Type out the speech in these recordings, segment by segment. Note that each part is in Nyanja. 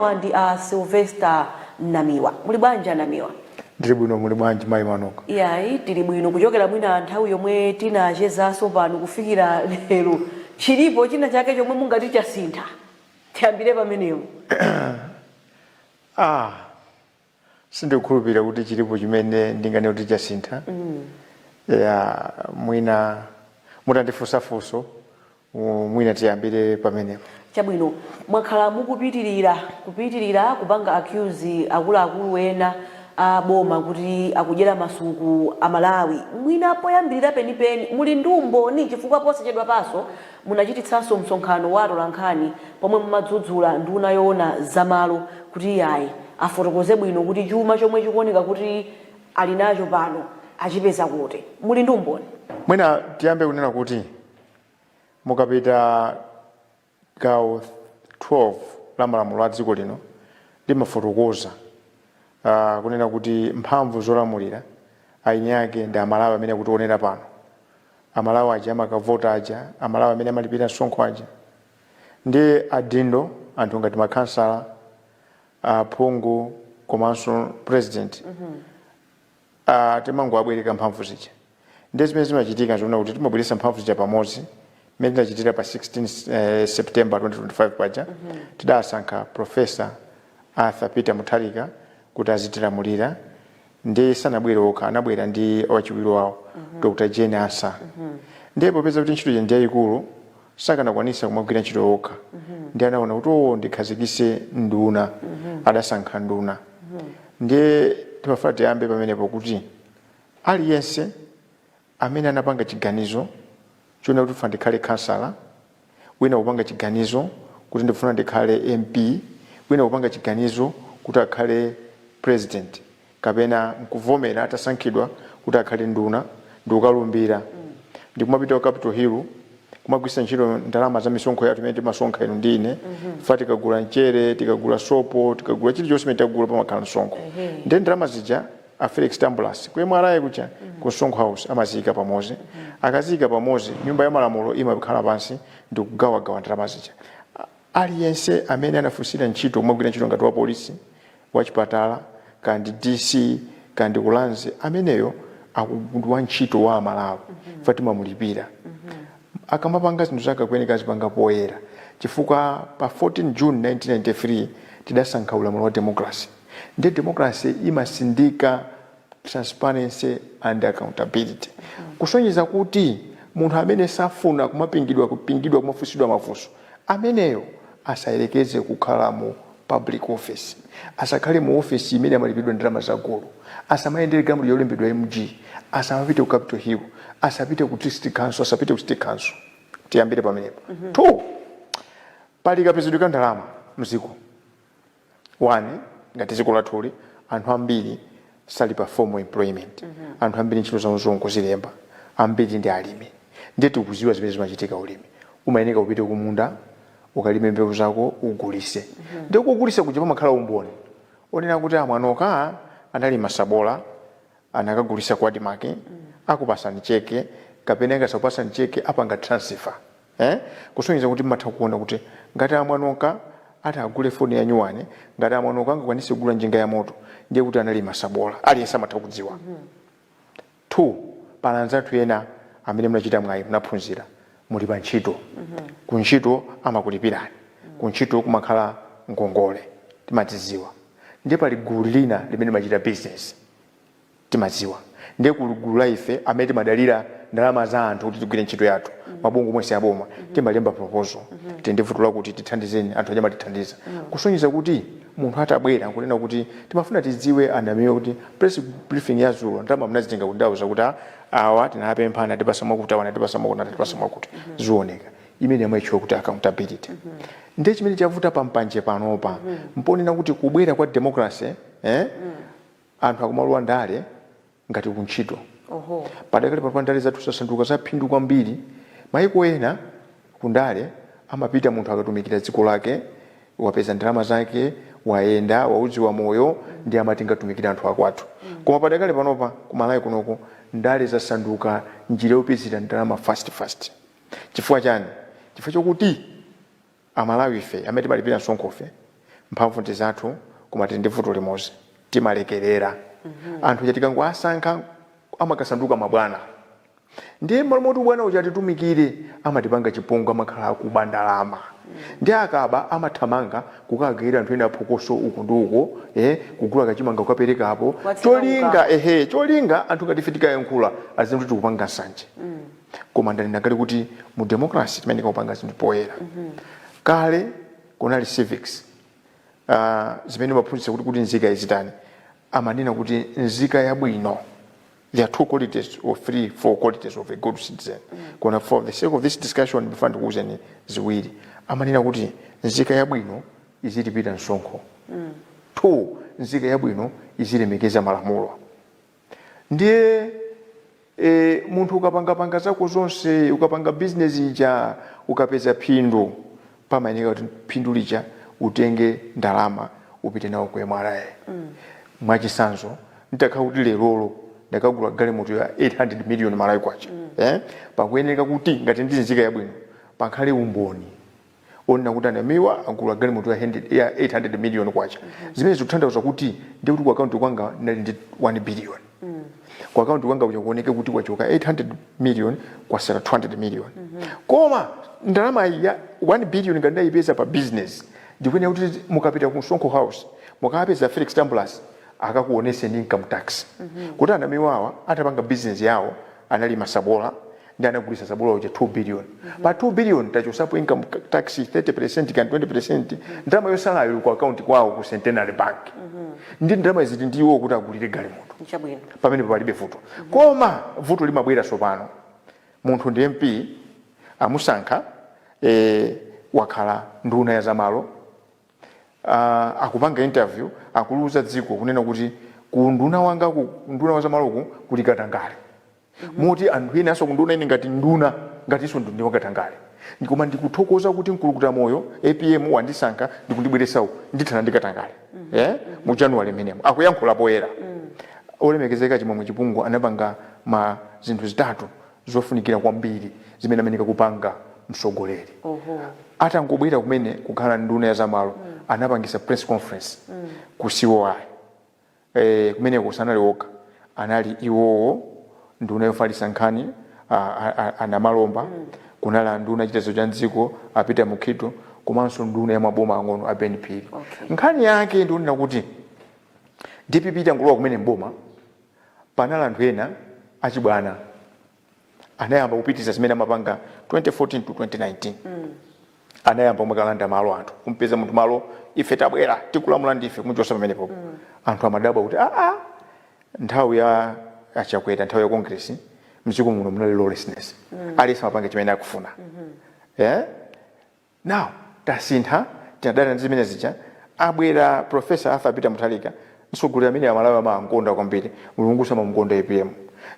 Awa ndi a Sylvester Namiwa. Muli bwanji a Namiwa? Ndili bwino muli bwanji mayi Manoka? Iyayi tili bwino kuchokera mwina nthawi yomwe tinachezanso pano kufikira lero chilipo china chake chomwe mungati chasintha? Tiyambire pamenepo. Ah. sindikukhulupirira kuti chilipo chimene ndinganene kuti chasintha ya mwina mutandifunsa funso mu- mwina tiyambire pamenepo chabwino mwakhala mukupitirira kupitirira kupanga accuse akuluakulu ena a boma kuti akudyera masuku a malawi mwina poyambirira penipeni muli ndi umboni chifukwa posachedwapanso Munachititsanso msonkhano wa atolankhani pomwe mumadzudzula nduna yoona za malo kuti iyayi afotokoze bwino kuti chuma chomwe chikuoneka kuti ali nacho pano achipeza kuti. Muli ndi umboni? Mwina tiyambe kunena kuti mukapita gawo 12 la malamulo a dziko lino limafotokoza kunena kuti mphamvu zolamulira eni ake ndi Amalawi amene akutionera pano. amalawi aja amakavota aja amalawi amene amalipira msonkho aja ndiye adindo anthu ngati makhansala aphungu komanso president Ah, timangowabwereka mphamvu zija ndiye zimene zimachitika nzonena kuti timabweretsa mphamvu zija pamodzi mmene tinachitira pa 16 eh, september 2025 paja tidasankha profesa arthur peter mutharika kuti azitilamulira ndiye sanabwere okha anabwera ndi wachiwiri wawo dr jane ansah ndiye popeza kuti ntchito ija ndi yayikulu sakanakwanisa kumagwira ntchito okha ndiye anaona kuti owo ndikhazikise nduna adasankha nduna ndiye ndimafuna tiyambe pamenepo kuti aliyense amene anapanga chiganizo chonena kuti ndifuna ndikhale khansala, wina kupanga chiganizo kuti ndifuna ndikhale MP, wina kupanga chiganizo kuti akhale President kapena nkuvomera atasankhidwa kuti akhale nduna ndikukalumbira ndi kumapita ku Capital Hill kumagwiritsa ntchito ndalama za misonkho yathu imene timasonkha inu ndi ine chifukwa tikagula mchere, tikagula sopo, tikagula chilichonse chimene tagula pamakhala msonkho ndiye ndalama zija a Felix Tambulasi ku MRA kuja ku Msonkho House amaziyika pamozi akaziyika pamozi nyumba ya malamulo imakhala pansi ndi kugawagawa ndalama zija A- aliyense amene anafunsira ntchito kumagwira ntchito ngati wa polisi wa chipatala kaya ndi DC kaya ndi ulanzi ameneyo akukhala wantchito wa amalawi chifukwa timamulipira akamapanga zinthu zake akuyeneka azipanga poyera chifukwa pa 14 june 1993 tidasankha ulamuliro wa democracy ndiye democracy imasindika transparency and accountability kusonyeza kuti munthu amene safuna kumapingidwapingidwa kumafunsidwa mafunso ameneyo asayerekeze kukhala mu public office asakhale mu office imene amalipidwa ndalama za gulu asamayendere galimoto yolembedwa mg asamapite ku capital hill asapite ku district council asapite ku city council tiyambire pamenepo two pali kapezedwe ka ndalama mziko One, ngati dziko lathuli anthu ambiri sali pa formal employment mm -hmm. anthu ambiri ntchito zawo zongozilemba ambiri ndi alimi ndiye tikuziwa zimene zimachitika ulimi umayeneka upite kumunda ukalime mbewu zako ugulise mm -hmm. ndiye kugulisa kuja pamakhala umboni onena kuti a Mwanoka analima sabola anakagulisa ku ADMARC mm -hmm. akupasani cheke kapena ngati sakupasani cheke apanga transfer Eh? Kusonyeza kuti mmatha kuona kuti ngati a Mwanoka atagule foni ya nyuwani, ngati a Mwanoka angakwanise kugula njinga ya moto, ndiye kuti analima sabola. Aliyense amatha kudziwa. Two, pali anzathu ena amene munachita mwayi, munaphunzira, muli pa ntchito. Ku ntchito amakulipirani. Ku ntchito kumakhala ngongole. Timadziziwa. Ndiye pali gulu lina limene limachita bizinesi. timadziwa ndiye kuli gulu la ife amene timadalira ndalama za anthu kuti tigwire ntchito yathu mabungwe omwe si aboma timalemba proposal tili ndi vuto lakuti tithandizeni anthu aja amatithandiza kusonyeza kuti munthu atabwera nkunena kuti timafuna tidziwe a Namiwa kuti press briefing ya dzulo ndalama mnazitenga kuti ndauza kuti "Ah, awa tinawapempha anatipasa mwakuti awa anatipasa mwakuti anatipasa mwakuti zioneka imene amaitchula kuti accountability ndiye chimene chavuta apa panje panopa n'ponena kuti kubwera kwa democracy eh, Anthu akumalowa ndale ngati kuntchito. Padakali panopa ndale zathu zasanduka zaphindu kwambiri. Mayiko ena kundale amapita munthu akatumikira dziko lake, wapeza ndalama zake, wayenda, waudziwa moyo ndiye amati ndikatumikire anthu akwathu. Koma padakali panopa ku Malawi kunoko ndale zasanduka njira yopezera ndalama fasiti-fasiti. Chifukwa chani? Chifukwa chakuti. Amalawife amene timalipira msonkhofe mphamvu ndi zathu koma tili ndi vuto limodzi, timalekerera. Anthu aja tikangowasankha amakasanduka mabwana ndiye m'malo moti ubwana uja atitumikire amatipanga chipongwe, amakhala akuba ndalama ndiye akaba amathamanga kukagayira anthu ena phokoso uku ndi uko, eh, kugula kachimanga kukapereka apo cholinga, ehe, cholinga anthu ngati ife tikayankhula aziti tikupanga nsanje. koma ndanena kale kuti mu democracy timayenera kupanga zinthu poyera kale kunali civics uh, imene imaphunzitsa kuti nzika izitani amanena kuti nzika yabwino there are two qualities or three four qualities of a good citizen koma for the sake of this discussion before ndikuuzeni ziwiri amanena kuti nzika yabwino izilipira msonkho two nzika yabwino izilemekeza malamulo Ndiye e, munthu ukapangapanga zako zonse, ukapanga bizinesi ija, ukapeza phindu, pamayeneka kuti phindu lija utenge ndalama upite nawo ku MRA. Mm. Mwachisanzo, nditakhala kuti lerolo ndakagula galimoto ya 800 million malawi kwacha mm. eh? pakuyeneka kuti ngati ndinzika yabwino pakhale umboni onena kuti a Namiwa agula galimoto ya 100 ya 800 million kwacha zimene zikutanthauza kuti ndi kuti ku akaunti kwanga ndinali ndi 1 billion ku akaunti kwanga kuja kuoneke kuti kwachoka 800 million kwasala 200 million koma ndalama iyi ya 1 billion ngati ndayipeza pa business ndikuyenera kuti mukapita ku msonkho house mukapeza felix Tambulasi akakuoneseni income tax kuti a Namiwawa atapanga business yawo analima sabola ndi anagulisa sabula uja 2 billion mm -hmm. pa 2 billion atachosapo income tax 30% kaya 20% ndalama yosalayo ili ku account kwawo ku centenary bank mm -hmm. ndi ndalama zitindiwo kuti agulire galimoto nchabwino pamene palibe vuto mm -hmm. koma vuto limabwera sopano munthu ndi mp amusankha eh, wakhala nduna ya zamalo uh, akupanga interview akuliuza dziko kunena kuti ku unduna wanga ku unduna wa zamaloku kuli katangale moti anthu enanso kundiona ine ngati nduna ngatinso ndindi wakatangale Ndi- koma ndikuthokoza kuti mkulukuta moyo apm andisankha ndikundibweretsa uku ndithana ndi katangale eh? mu january mmenemo akuyankhula poyera olemekezeka chimwemwe chipungu anapanga ma zinthu zitatu zofunikira kwambiri zimene amayeneka kupanga mtsogoleri oho atangobwera kumene kukhala nduna ya zamalo anapangisa press conference ku COI E, kumeneko sanali okha, anali iwowo, nduna yofalitsa nkhani, a, a, a, a Namalomba, kunali anduna a chitetezo cha m'dziko, a Peter Mukhito, komanso nduna ya maboma ang'ono, a Ben Phiri. Okay. Nkhani yake ndi yonena kuti dpp itangolowa kumene m'boma, panali anthu ena achibwana anayamba kupitiriza zimene amapanga 2014 to 2019 mm. anayamba kumakalanda malo anthu kumpeza munthu malo ife tabwera tikulamula ndife kumuchosa pamenepo mm. anthu amadabwa kuti aa ah, ah, nthawi ya a Chakwera nthawi ya congress mdziko muno munali lawlessness mm. aliyense amapanga chimene akufuna mm -hmm. yeah? now tasintha tinadana ndi zimene zija abwera professor Arthur Peter Mutharika mtsogoleri amene amalawi amamkonda kwambiri mulungunso amamkonda apm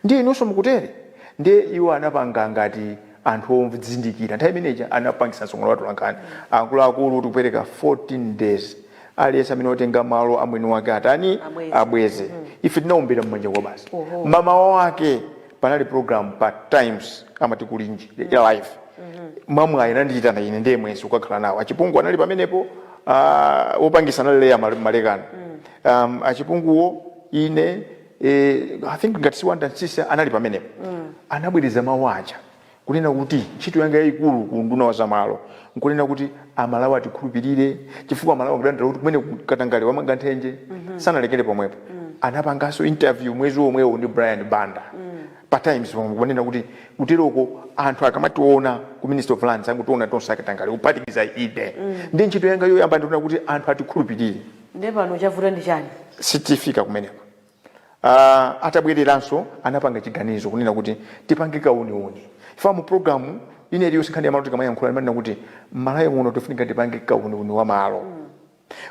ndiye inunso mukutere ndiye iwo anapanga ngati anthu odzindikira nthawi imene ija anapangisa msonkhano wa atolankhani akuluakulu tikupereka 14 days aliyense amene watenga malo a mwini wake atani Abweze. abweze ife tinawombera mmanja kwabasi Oho. mamawa wake panali program pa times amati kulinji ya live mwamwayi anandiyitana ine ndiye mwezi kukakhala nawo achipungu anali pamenepo ah, wopangisa anali Leah Male- Malekano um, achipunguwo ine eh, i think ngati si Wanda Nsisa anali pamenepo anabwereza mawu aja Kunena kuti ntchito yanga yaikulu ku unduna wa zamalo nkunena kuti Amalawi atikhulupirire chifukwa Amalawi akudandaula kuti kumeneku katangale wamanga nthenje sanalekere pomwepo. Anapanganso interview mwezi womwewo ndi Brian Banda pa Times pomwepo kunena kuti kuteroko anthu akamationa ku Ministry of Lands angotiona tonse akatangale kuphatikiza ine. Ndiye ntchito yanga yoyamba ndi kuona kuti anthu atikhulupirire. Ndiye pano chavuta ndi chani? Tifika kumeneko. Uh, atabwereranso anapanga chiganizo kunena kuti tipange kauniuni ife mu programu ina iliyonse nkhani ya malo tikamayankhula timanena kuti mmalawi muno pofunika tipange kauniuni wa malo mm.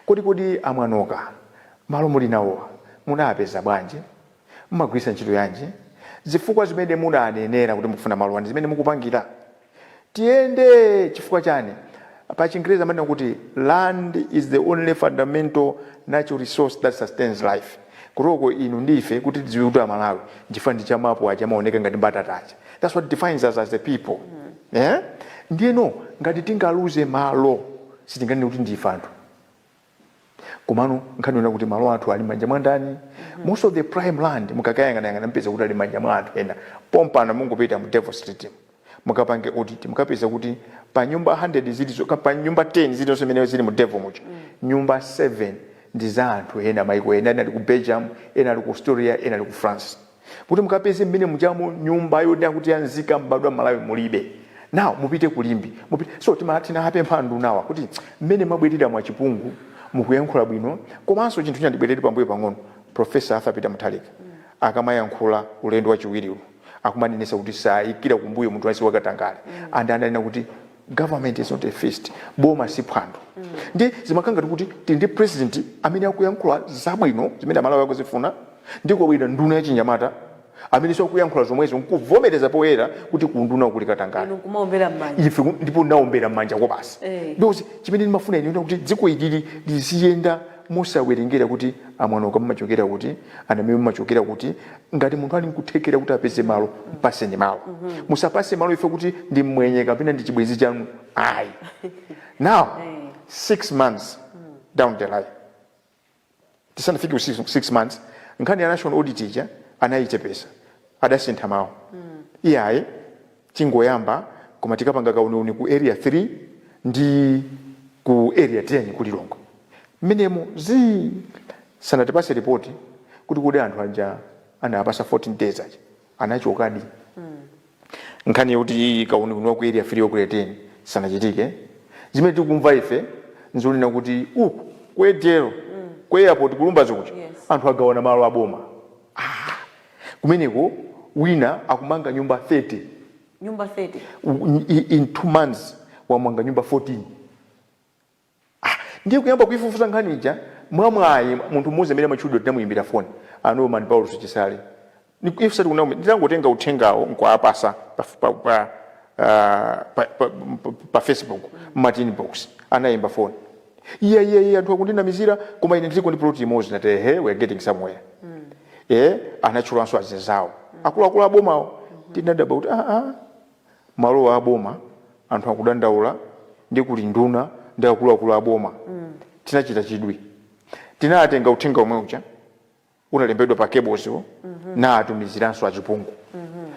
kodi kodi amwanoka malo muli nawowa, munapeza bwanji mmagwiritsa ntchito yanji zifukwa zimene munanenera kuti mukufuna malowa ndi zimene mukupangira Tiyende chifukwa chani? Pa chingerezi amanena kuti land is the only fundamental natural resource that sustains life. Kuteroko inu ndi ife kuti tidziwe kuti Amalawi nchifukwa cha mapu aja amaoneka ngati mbatata aja. That's what defines us as a people. Eh? Ndiyeno ngati tingaluze malo sitinganene kuti ndi ife anthu. komano nkhani ndi yonena kuti malo athu ali manja mwa ndani most of the prime land mukakayang'anayang'ana mupeza kuti ali manja mwa anthu ena pompano mungopita mu devil street mu. mukapange audit mukapeza kuti pa nyumba 100 zilizo ka- pa nyumba 10 zilizonse zimene zili mu devil muja nyumba 7 ndi za anthu ena maiko ena ena ali ku belgium ena ali ku australia ena ali ku france kuti mukapeze mmene mujamo nyumba yonena kuti ya nzika mbadwa ya Malawi mulibe now mupite ku Limbe mupite. so tima- tinapempha andunawa kuti mmene mwabwerera Achipungu mukuyankhula bwino komanso chinthu china ndibwerere pambuyo pang'ono profesa arthur peter Mutharika akamayankhula ulendo wachiwiriwu akumanenesa kuti sayikira kumbuyo munthu aliyense wakatangale and ananena kuti government is not a feast boma si phwando mm. ndi zimakhala ngati kuti tili ndi president amene akuyankhula zabwino zimene amalawi akuzifuna ndi kubwera nduna ya chinyamata amenenso akuyankhula zomwezo nkuvomereza poyera kuti kunduna kuli katangale ife ndipo tinaombera mmanja kwabasi eh. because chimene ndimafuna ine kuti dziko ili liziyenda Musawerengera kuti a Mwanoka mumachokera kuti, a Namiwa mumachokera kuti, ngati munthu ali nkuthekera kuti apeze malo mpaseni malo. Musampase malo chifukwa kuti ndi mmwenye kapena ndi chibwenzi chanu ayi. Now 6 months down the line, tisanafike ku 6 months, nkhani ya national audit ija anayichepesa, adasintha mau. Iyayi. Tingoyamba koma tikapanga kauniuni ku area 3 ndi ku area 10 ku Lilongwe mmenemo zii sanatipase report kuti kodi anthu aja anawapasa 14 days aja anachokadi? Nkhani yoti kauniuni wa ku area 3 or ku area 10 sunachitike zimene tikumva ife nzonena kuti uku ku ADL ku airport ku Lumbadzi kuja anthu agawana malo a boma. Kumeneko wina akumanga nyumba 30. Nyumba 30? U- in- i- In two months wamanga nyumba 14. Ah, ndiye kuyamba kuifufuza nkhani ija mwamwayi munthu mmodzi amene amatchulidwa tinamuyimbira foni a norman paulos chisale Ni- ife sati kunama nditangotenga uthengawo nkuapasa pa, pa, pa, ah, pa, pa, pa, pa facebook martin box anayimba foni iya iya iya anthu akundinamizira koma ine ndiliko ndi plot imodzi nati ehe we are getting somewhere eh anatchulanso azinzawo akuluakulu abomawo tinadabwa kuti ah ah malo a boma anthu akudandaula ndi kuli nduna ndi akuluakulu a boma tinachita chidwi tinatenga uthenga omwe uja unalembedwa pa page wo nawatumiziranso achipungu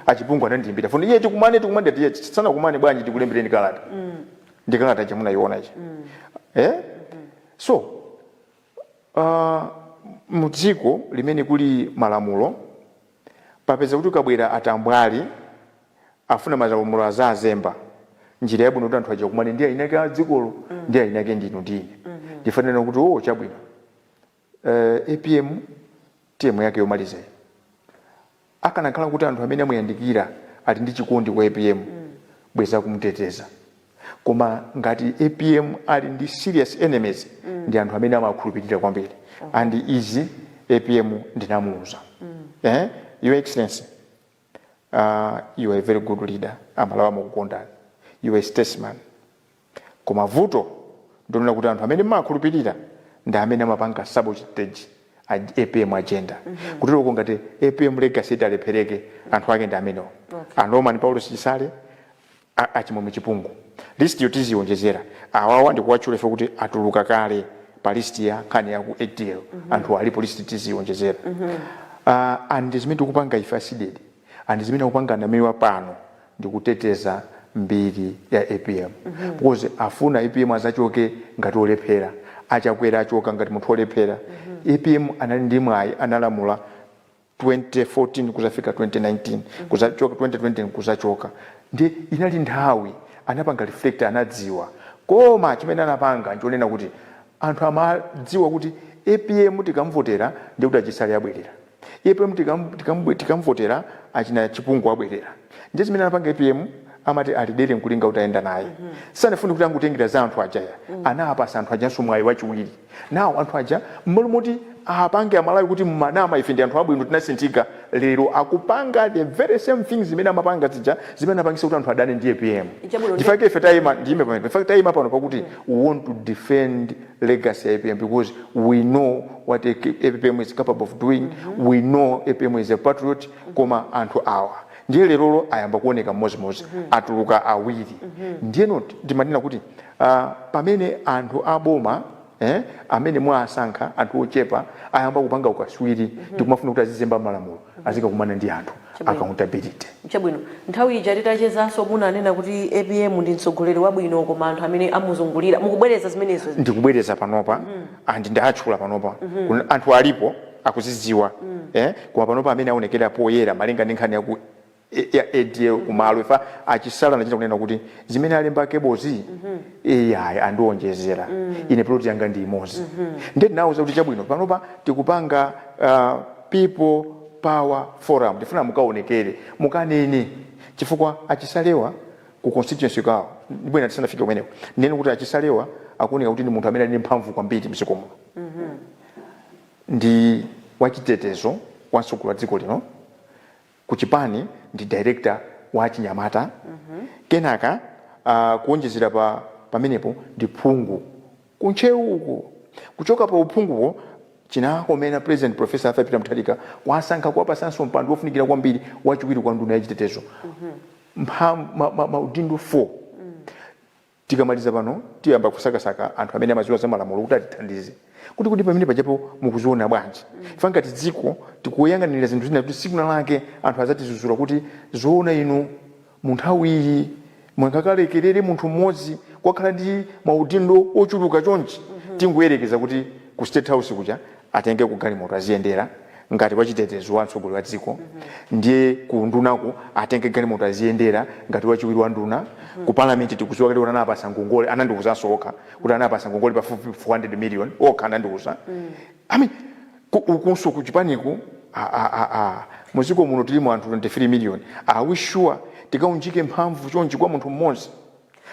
achipungu anandiimbira foni iyayi tikumane tikumane tiye tisanakumane bwanji tikulembereni kalata ndi kalata ija munayiona ija eh so uh, mu dziko limene kuli malamulo pakupeza kuti ukabwera atambwali afuna malamulo azazemba njira yabwino kuti anthu aja akumane ndi eni ake a dzikolo ndi eni ake ndinu ndi ine ndiyofanira kuti o chabwino Uh, apm term yake yomaliza iyi akanakhala kuti anthu amene amuyandikira ali ndi chikondi kwa apm mm. bwenzi akumuteteza koma ngati apm ali ndi serious enemies mm. ndi anthu amene amawakhulupirira kwambiri okay. Oh. and izi apm ndinamuuza mm. eh? your excellency uh, you are a very good leader amalawi amakukondani you are a statesman Koma vuto ndilonena kuti anthu amene mmawakhulupilira ndi amene amapanga sabotage apm agenda kutero kuti ngati apm legacy italephereke anthu ake ndi amenewo a Norman Paulos Chisale a a Chimwemwe Chipungu. List yo tiziionjezera. Awawa ndikuwatchula chifukwa kuti atuluka kale pa list ya nkhani ya ku adl. Anthuwa alipo list tiziionjezera. Ah, and ndi zimene tikupanga ife a Cdedi. and zimene tikupanga a Namiwa pano ndi kuteteza mbiri ya apm because tifuna apm azachoke ngati olephera, a Chakwera achoka ngati munthu olephera, apm anali ndi mwayi analamula 2014 kuzafika 2019 kuzachoka 2020 kuzachoka ndiye inali nthawi anapanga reflect anadziwa koma chimene anapanga nchonena kuti anthu amadziwa kuti apm tikamuvotera ndiye kuti achisale abwerera. Apm tikam tikam tikamvotera achina chipungu abwerera ndiye zimene anapanga apm amati ali dere nkulinga utayenda naye sanafune kuti angotengera za anthu aja ya anawapatsa anthu ajanso mwayi wachiwiri now anthu aja mmalo moti apruve amalawi kuti mumanama ife ndi anthu abwino tinasinthika lero akupanga the very same things zimene amapanga zija zimene anapangisa kuti anthu adane ndi apm Chabwino, ndi- ndifa chake ife tayima ndiyime pamene ndifa chake tayima pano pakuti we want to defend legacy ya apm because we know what apm is capable of doing mm -hmm. we know apm is a patriot mm -hmm. koma anthu awa ndiye lerolo ayamba kuoneka mmodzimmodzi mm -hmm. atuluka awiri mm -hmm. ndiyeno ndimanena kuti uh, pamene anthu aboma eh, amene mwasankha anthu ochepa ayamba kupanga ukaswiri mm -hmm. ndikumafuna kuti azizemba malamulo azikakumana ndi anthu Chabwino. accountability chabwino nthawi ija titachezanso munanena kuti apm ndi mtsogoleri wabwino koma anthu amene amuzungulira mukubwereza zimenezo ndikubwereza panopa and ndawatchula panopa Kun- anthu alipo akuzidziwa eh koma panopa amene aonekera poyera malinga ndi nkhani yaku e ya adl kumalo ifa achisale anachita kunena kuti zimene alemba kebozi ai andionjezera ine plot yanga ndi imodzi nde tinawuza kuti chabwino panopa tikupanga ah, people power forum tifuna mukaonekere mukanene chifukwa achisalewa ku constituency kwawo ndipo ine tisanafike kumeneko ndinene kuti achisalewa akuoneka kuti ndi munthu amene ali ndi mphamvu kwambiri mdziko muno ndi wachitetezo wa mtsogoleri wa dziko lino ku chipani ndi director wa achinyamata kenaka uh, kuonjezera pa pamenepo ndi phungu ku ntcheu uko kuchoka pa uphunguwo chinakomera president professor arthur peter mutharika kuwasankha kuwapasanso mpando wofunikira kwambiri wachiwiri kwa nduna yachitetezo mpha ma, ma, maudindo 4 Tikamaliza pano tiyamba kusakasaka anthu amene amaziwa za malamulo kuti atithandize kuti kodi pamene pajapo mukuziona bwanji chifukwa ngati dziko tikuyang'anira zinthu zina zoti siku lina lake anthu azatizuzula kuti zoona inu munthawiyi munkalekerera munthu mmodzi kukakhala ndi maudindo ochuluka chonchi tingoyelekeza kuti ku state house kuja atenge ku galimoto aziyendera ngati wachitetezo wa mtsogoleri wa dziko ndiye ku undunaku atenge galimoto aziyendera ngati wachiwiri wa nduna ku parliament tikudziwa kuti anawapasa ngongole anandiwuzanso okha kuti anawapasa ngongole pafupi 400 million okha anandiwuza i mean ku- ukunso ku chipaniku a- a- a- a. muziko muno tilimo anthu 23 million are we sure tikaunjike mphamvu chonchi kwa munthu mmodzi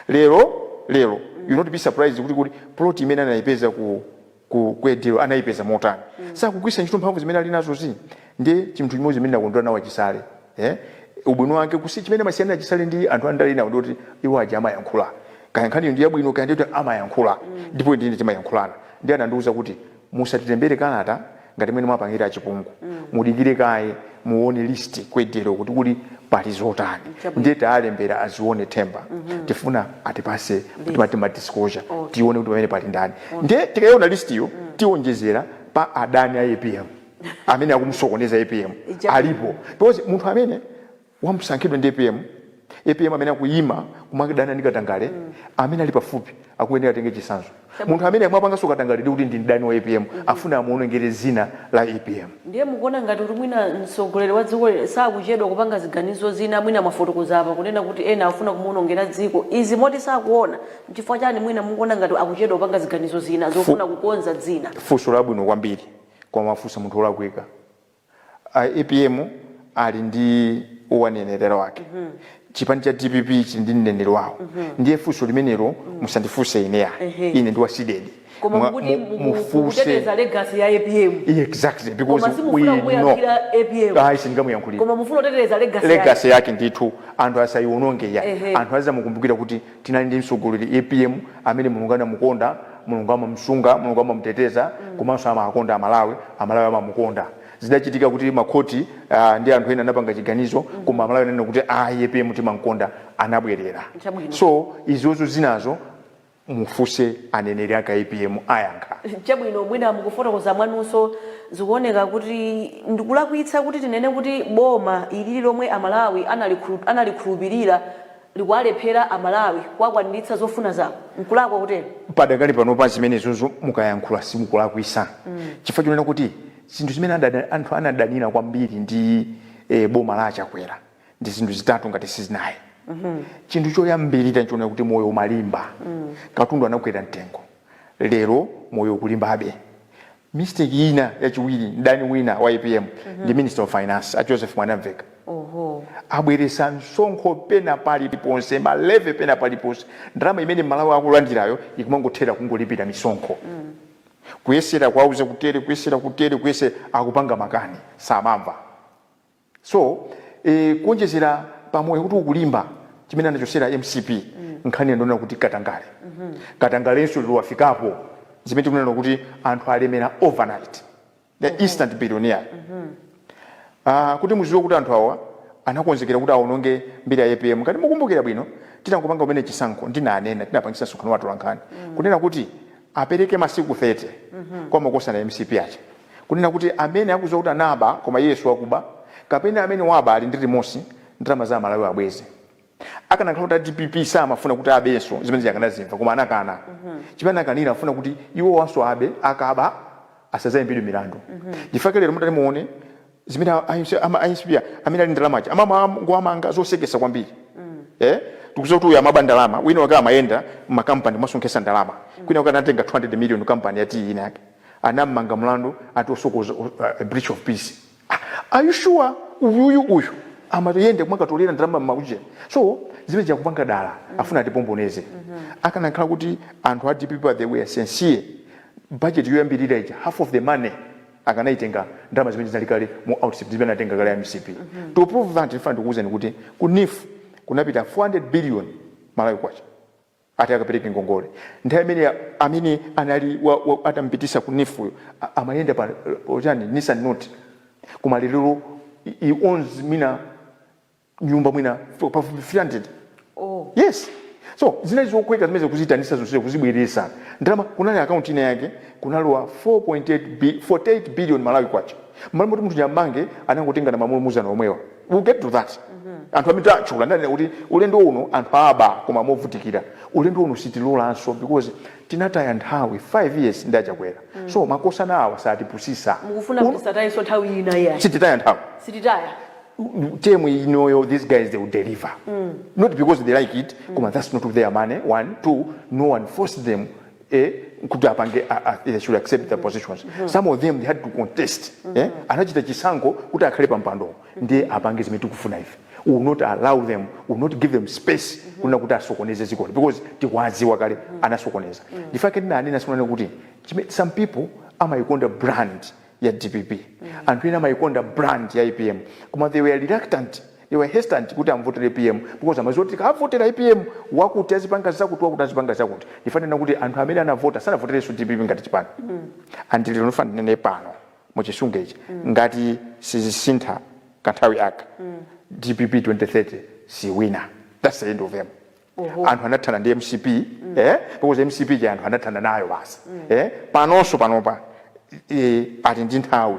lero lero you'll not be surprised kuti kuti plot imene anayipeza ku ku Kanjedza anayipeza motani mm. sakugwisa ntchito mphamvu zimene ali nazo zi ndi chinthu chimodzi chimene ndakondwa nawo achisale eh? ubwino wake kusi chimene amasiyana achisale ndi anthu andale enawo ndikuti iwo aja amayankhula kaya nkhaniyo ndi yabwino kaya ndikuti amayankhula mm. ndipo mm. ndi ine timayankhulana ndiye anandiuza kuti musatilembere kalata ngati mmene mwapangira achipungu mm. mudikire kaye muone list ku Kanjedza kuti kuli pali zotani Chabwino. ndiye tawalembera azione themba tifuna atipase timati ma disclosure Okay. tione kuti pamene pali ndani ndiye tikaiona listiyo tionjezera pa adani a apm amene akumusokoneza apm Chabwino. alipo because munthu amene wasankhidwa ndi apm Apm amene akuyima kumadana ndi katangale amene ali pafupi akuyenera atenge chitsanzo. Munthu amene akupanganso katangale ndiye kuti ndi mdani wa apm afuna amuonongere dzina la apm. Ndiye mukuona ngati kuti mwina mtsogoleri wa dzikoli sakuchedwa kupanga ziganizo zina mwina mwafotokoza apa kunena kuti ena akufuna kumuonongera dzina izi moti sakuona nchifukwa chani mwina mukuona ngati akuchedwa kupanga ziganizo zina Fu, zofuna kukonza dzina? funso labwino kwambiri koma mwafunsa munthu olakwika. A apm ali ndi owanenera wake chipani cha dpp chili ndi mneneri wawo ndiye funso limenelo musandifunse ine ya Ehe. ine ndi wa cdedi koma Mwa- mukuti mu- muku- mufunse mukuteteza legacy ya apm exactly because koma we simufuna know kuyankhulira apm ayi sindingamuyankhulire koma mufuna kuteteza legacy yake. legacy yake ndithu anthu asayiwononge ya Ehe. anthu azamukumbukira kuti Tinali ndi mtsogoleri, apm, amene Mulungu anamukonda, Mulungu amamusunga, Mulungu amamuteteza komanso amawakonda a Malawi, a Malawi amamukonda. Zidachitika kuti ma khoti ndi anthu ena anapanga chiganizo koma a Malawi ananena kuti ayi apm timamkonda anabwelera. Chabwino. So izozo zinazo mufunse aneneri ake a apm ayankha. Chabwino, mwina mkufotokoza mwanumo zikuoneka kuti ndikulakwitsa kuti tinene kuti boma ilili lomwe a Malawi analikhulupilira? likuwalephera a Malawi kuwakwaniritsa zofuna zawo, nkulakwa kutero? Padakali panopa zimenezozo mukayankhula simukulakwisa chifukwa chonena kuti zinthu zimene anthu anadanira kwambiri ndi boma la achakwera ndi zinthu zitatu ngati sizinai chinthu choyambilira nchonena kuti moyo umalimba katundu anakwera mtengo lero moyo ukulimbabe mistake yina yachiwiri mdani wina wa apm ndi minister of finance a joseph mwanamveka abweresa msonkho pena paliponse ma levy pena paliponse ndalama imene mmalawi akulandirayo ikumangothera kungolipira misonkho kuyesera kuwauza kutere kuyesera kutere kuyesera akupanga makani samamva So e, kuonjezera pa moyo kuti ukulimba chimene anachosera mcp mm. nkhani yonena kuti katangale mm -hmm. katangalenso lero wafikapo zimene tikunena kuti anthu alemera overnight the mm -hmm. instant billionaire mm -hmm. uh, kuti muziwe kuti anthu awa anakonzekera kuti aononge mbiri ya apm ngati mukumbukira bwino titangopanga kumene chisankho ndinanena tinapangisa msonkhano wa atolankhani mm. kunena kuti Apereke masiku 30 kwa makosana a mcp aja kunena kuti amene akuziwa kuti anaba koma iye siwakuba kapena amene waba ali ndi remorse ndalama za amalawi abweze. Akanakhala kuti a dpp samafuna kuti abenso zimene zija akanatimva koma anakana chimene anakanira akufuna kuti iwowanso abe akaba asazayimbidwe milandu ndifake lero mutati muone zimene a- a- a- ama- a mcp a- amene ali ndalama aja amangowamanga zosekesa kwambiri eh tikuziwa kuti uyu amaba ndalama wina wake amayenda mmakampani kumasonkhesa ndalama kwina wake anatenga 200 million kampani ya tiyi ina yake anammanga mlandu ati osokoneza uh, breach of peace Ah, are you sure uyuyu uyu amayenda kumakatolera ndalama mmaujeni so zimene akupanga dala afuna atipomboneze akanakhala kuti anthu a dpp they were sincere budget yoyambirira ija half of the money akanaitenga ndalama zimene zinali kale mu outstip zimene anatenga kale a mcp to prove that ndifuna ndikuwuzeni kuti ku neef kunapita 400 billion malawi kwacha ati akapereke ngongole nthawi imene amene anali wa, wa, atampitisa ku neef uyo a- amayenda pa ujeni nissan note koma lero he owns mina nyumba mwina f- pafupi 300 oh yes so zinali zotheka zimene kuzitanisa zonse kuzibweresa ndalama kunali akaunti ina yake kunalowa 4.8 bi- 48 billion malawi kwacha mmalo moti munthu uja ammange anangotenga na mamulo muzana omwewa we'll get to that anthu amene tatchula ndanena kuti ulendo uno anthu aba koma movutikira ulendo uno sitilolanso because tinataya nthawi 5 years ndi achakwera so makosana awa asatipusise mukufuna Uno- kuti sitayanso nthawi ina iyayi sititaya nthawi sititaya term inoyo these guys they will deliver mm. not because they like it mm. koma that's not their money one two no one forced them eh, kuti apange they should accept their positions mm -hmm. some of them they had to contest mm -hmm. eh, anachita chisankho kuti akhale pampando mm -hmm. ndiye apange zimene tikufuna ife we will not allow them we will not give them space mm -hmm. kunena kuti asokoneze dzikoli because tikwaziwa kale mm -hmm. anasokoneza mm -hmm. ndifake ndinanena tsiku lina kuti some people amayikonda brand ya dpp mm. anthu ena amayikonda brand ya apm koma they were reluctant they were hesitant kuti amvotere apm because amaziwa kuti avotera apm wakuti azipanga zakuti wakuti azipanga zakuti ndifuna ndinene kuti anthu amene anavota sanavoterenso dpp ngati chipani mm. and lero ndifuna ndinene pano muchisunga ichi mm. ngati sizisintha kanthawi aka mm. dpp 2030 siwina that's the end of them Oho. anthu anathana ndi mcp eh, because mcp ija anthu anathana nayo basi eh, panonso panopa eh, ali ndi nthawi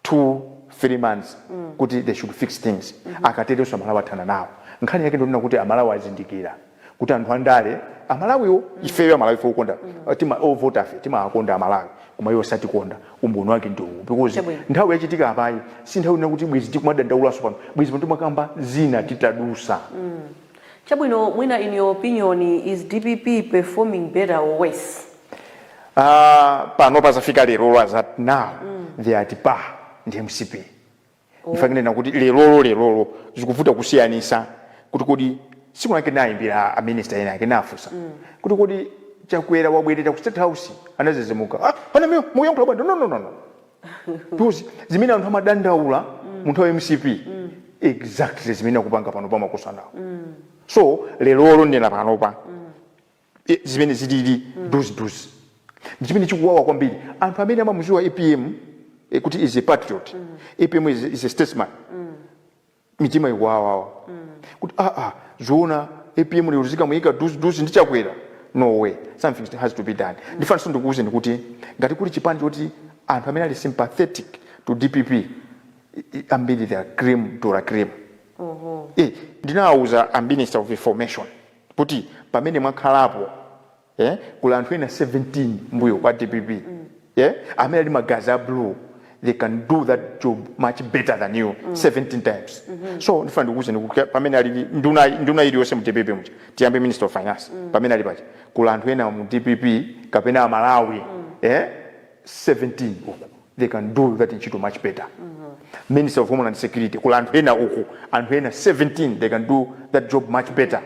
two three months kuti they should fix things akaterenso amalawi athana nawo nkhani yake ndiyonena kuti amalawi azindikira kuti anthu andale amalawiwo ifeyo amalawi fe ukonda tima ovota fe timawakonda amalawi koma iwo satikonda umboni wake ndi uwu because Chabwino. nthawi yachitika apayi si nthawi ina kuti bwezi tikumadandaulaso pano bwezi pano timakamba zina titadusa Chabwino mwina in your opinion is dpp performing better or worse? Aaa panopa zafika lerolo as at now they are at par ndi mcp ndifuna kunena kuti lerolo lerolo zikuvuta kusiyanisa kuti kodi tsiku linalake ndinayimbira a minister ena ake ndinafunsa kuti kodi chakwera wabwerera ku state house anadzidzimuka ah panamio mukuyankhula bwanji no no no no Because zimene anthu amadandaula mu nthawi ya mcp exactly zimene akupanga panopa makosanawo so lerolo ndinena panopa eh, zimene zilili duziduzi ndi chimene chikuwawa kwambiri anthu amene amamuziwa apm eh, kuti is a patriot apm is, is a statesman mitima ikuwawawa kuti aa ah, zoona apm lero zikamuyika duzi duzi ndi chakwera no way something has to be done ndifunanso ndikuwuzeni kuti ngati kuli chipani choti anthu amene ali sympathetic to dpp i- i- ambiri they are cream de la cream Eh, ndinawawuza a minister of information kuti pamene mwakhalapo yeah? kuli anthu ena 17 mbuyo kwa dpp yeah? amene ali magazi a blue they can do that job much better than you 17 times so ndifuna ndikuwuzeni kuti pamene ali ndi- nduna nduna iliyonse mu dpp muja tiyambe minister of finance pamene ali paja kuli anthu ena mu dpp kapena amalawi yeah? 17 uku they can do that ntchito much better minister of homeland security kuli anthu ena uku anthu ena 17 they can do that job much better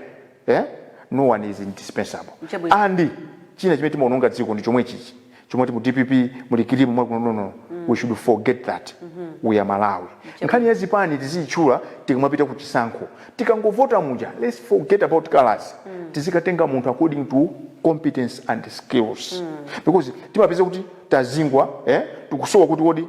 eh? no one is indispensable Chabwino. and china chimene timaononga dziko ndi chomwe chichi chomwe ati mu dpp muli kilimu mwakuti no no no we should forget that we are malawi nkhani ya zipani tiziyitchula tikamapita ku chisankho tikangovota muja let's forget about colors tizikatenga munthu according to competence and skills because timapeza kuti tazingwa eh? tikusowa kuti kodi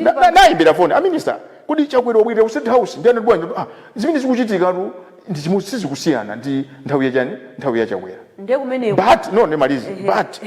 Na- na- naimbira foni a minister kodi chakwera wabwirira ku state house ndi anati bwanji ah, zimene zikuchitikatu ndi chimodzi sizikusiyana ndi nthawi ya chani nthawi ya chakwera ndiye kumeneko but no ndimalize, but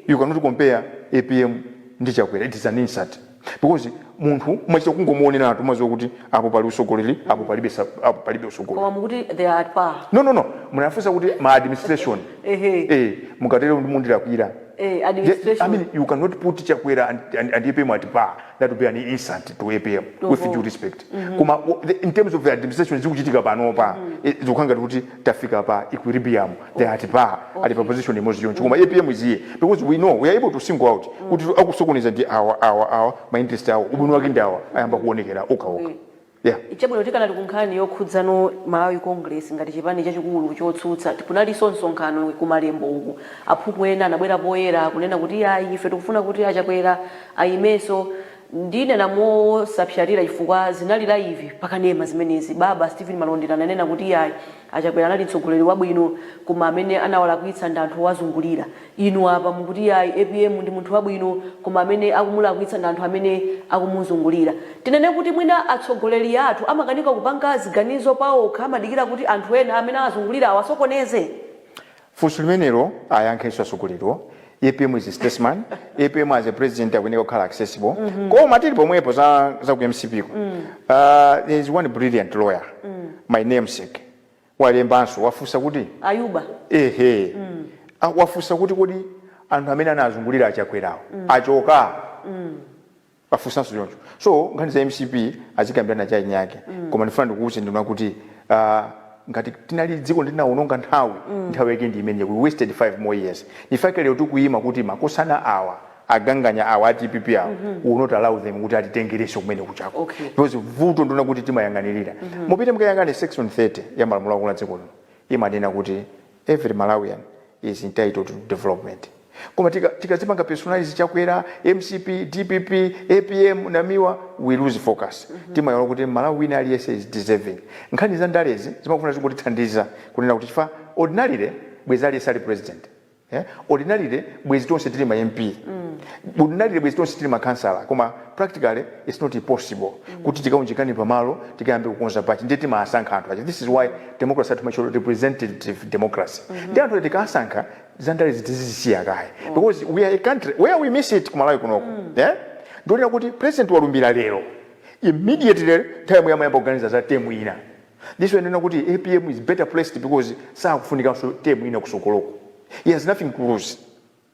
you cannot compare apm ndi chakwera it is an insult because munthu umachita kungomuoneratu umaziwa kuti apo pali utsogoleri apo palibe sa- apo palibe utsogoleri koma mukuti they are at par no no no munafunsa kuti ma administration Ehe. eh mukatero ndiye mundilakwira Eh, Ye- I administration. mean, you cannot put Chakwera and, and, and APM at par. That would be an insult to APM with Oho. due respect. Koma o- the- in terms of the administration zikuchitika panopa eh, zikukhala ngati kuti tafika pa equilibrium they are at par ali pa position imodzi yonse koma APM is here because we know we are able to single out kuti akusokoneza ndi awa awa awa ma interest awo ubwino wake ndi awa ayamba kuonekera okhaokha. Okay. Yeah. Chabwino tikanali ku nkhani yokhudzana ndi Malawi Congress ngati chipani chachikulu chotsutsa, kunalinso msonkhano ku Malembo uku, aphungu ena anabwera poyera kunena kuti iyayi ife tikufuna kuti a Chakwera ayimenso, ndinene mosapsatira chifukwa zinali laivi pa kanema zimenezi, baba Steven Malondera ananena kuti iyayi. A Chakwera anali mtsogoleri wabwino koma amene anawalakwitsa ndi anthu owazungulira. Inu apa mukuti yayi apm ndi munthu wabwino koma amene akumulakwitsa ndi anthu amene akumuzungulira. Tinene kuti mwina atsogoleri athu amakanika kupanga ziganizo paokha amadikira kuti anthu ena amene awazungulira awasokoneze? Funso limenelo ayankhe iwo atsogoleriwo, apm is a statesman, apm as a president akuyeneka kukhala accessible, koma tili pomwepo za za ku mcp ko, aah there is one brilliant lawyer, my namesake, walembanso, wafunsa kuti, Ayuba. ehe, wafunsa kuti kodi anthu amene anawazungulira a Chakwerawo achoka? wafunsanso choncho so nkhani za mcp azikambirana cha eni ake koma ndifuna ndikuwuze ndinena kuti ah, ngati tinali dziko tinawononga nthawi nthawi yake ndi imene we wasted 5 more years nchifukwa chake lero tikuyima kuti makosana awa aganganya awa a dpp awa we will not allow them kuti atitengerenso kumene kuchako Okay. because vuto ndiona kuti timayang'anirira mupite mukayang'ane section 30 ya malamulo akulu a dziko lino imanena kuti Every Malawian is entitled to development koma tika tikadzipanga personalize Chakwera, mcp, dpp, apm, Namiwa we lose focus timayiwala kuti M'malawi wina aliyense is deserving. Nkhani za ndalezi zimangofuna zikutithandiza kunena kuti chifukwa ordinarily bwezi aliyense ali president yeah ordinarily bwezi tonse tili ma MP ordinarily bwezi tonse tili ma councillor koma practically its not possible kuti tikaunjikane pamalo tikayambe kukonza pachi ndiye timawasankha anthu aja this is why democracy yathu timatcha representative democracy mm -hmm. ndiye anthu tikasankha zandale zi tizisiya kaye mm. because we are a country where we miss it kumalawi kunoko mm. yeah? ndionena kuti president walumbira lero immediately nthawi yomweyo amayamba kuganiza za temu ina this is why ndimanena kuti apm is better placed because sakufunikanso temu ina kusokoloko he has nothing to lose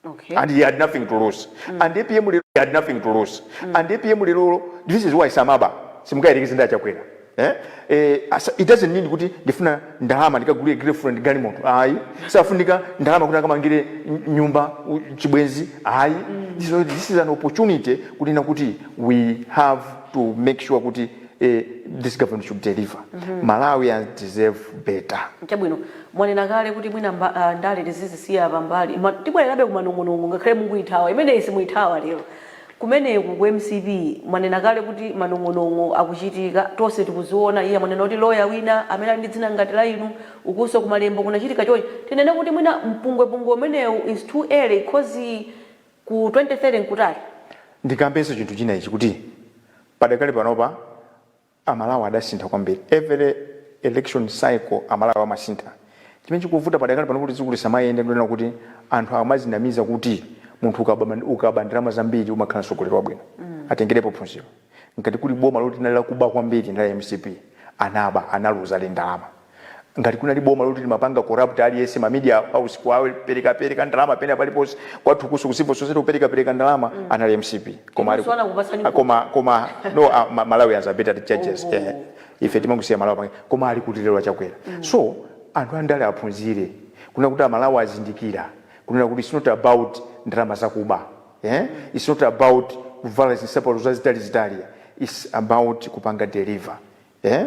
Okay. and he had nothing to lose mm. and apm lero he had nothing to lose mm. and apm lero this is why samaba simungayerekeze ndi achakwera eh? eh, it doesn't mean kuti ndifuna ndalama ndikagulire girlfriend galimoto ayi sakufunika ndalama kuti akamangire nyumba chibwenzi ayi mm. this, this is an opportunity kunena kuti we have to make sure kuti Eh, this government should deliver. Malawians deserve better. chabwino mwanena kale kuti mwina mba- ah, ndale tizizisiya pambali Ma- tibwererabe kumanong'onong'o ngakhale mukuithawa imeneyi simuithawa lero kumeneku ku mcp mwanena kale kuti manong'onong'o akuchitika tonse tikuziona iye mwanena kuti loya wina amene ali ndi dzina ngati la inu ukunso kumalembo kunachitika chonchi tinene kuti mwina mpungwepungwe umenewu is too early cause Ku 2030 n'kutali. Ndikambenso chinthu china ichi kuti padakali panopa a Malawi adasintha kwambiri. Every election cycle a Malawi amasintha. Chimene chikuvuta padakali pano kuti dziko lisamayende ndi chonena kuti anthu akumadzinamiza kuti munthu ukaba ukaba ndalama zambiri umakhala mtsogoleri wabwino. Atengerepo phunziro. Ngati kuli boma loti linali lakuba kwambiri ndi la mcp. Anaba, analuza ndi ndalama. Ngati kunali boma loti limapanga corrupt aliyense ma media house kuwapereka pereka ndalama pena paliponse kwathu kunso ku civil society kupereka pereka ndalama anali mcp. Koma ali Inunso ku anakupatsani a, voti. koma koma no a, ma, Malawians are better judges eh. Oho. Ife timangosiya Malawi pange koma ali kuti lero achakwera. So anthu andale aphunzire kunena kuti a Malawi azindikira kunena kuti it's not about ndalama zakuba. eh its not about kuvala zinsapato zazitalizitali its about kupanga deliver eh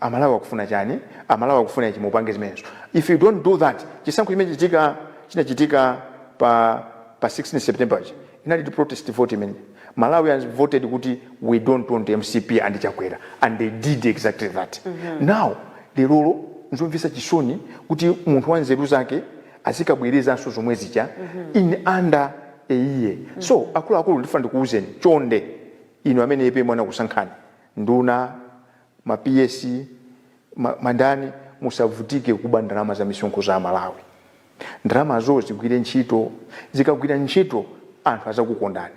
amalawi akufuna chani amalawi akufuna ichi mupange zimenezo if you don't do that chisankho chimene chitika chinachitika pa pa 16 september chi inali protest vote imene malawians voted kuti we don't want mcp and chakwera and they did exactly that now lerolo nzomvetsa chisoni kuti munthu wa nzeru zake azikabwerezanso zomwe zija in under a year. So akuluakulu ndifuna ndikuuzeni chonde inu amene apm anakusankhani nduna, ma PS, ma ma ndani musavutike kuba ndalama za misonkho za Amalawi. Ndalamazo zigwire ntchito, zikagwira ntchito anthu azakukondani.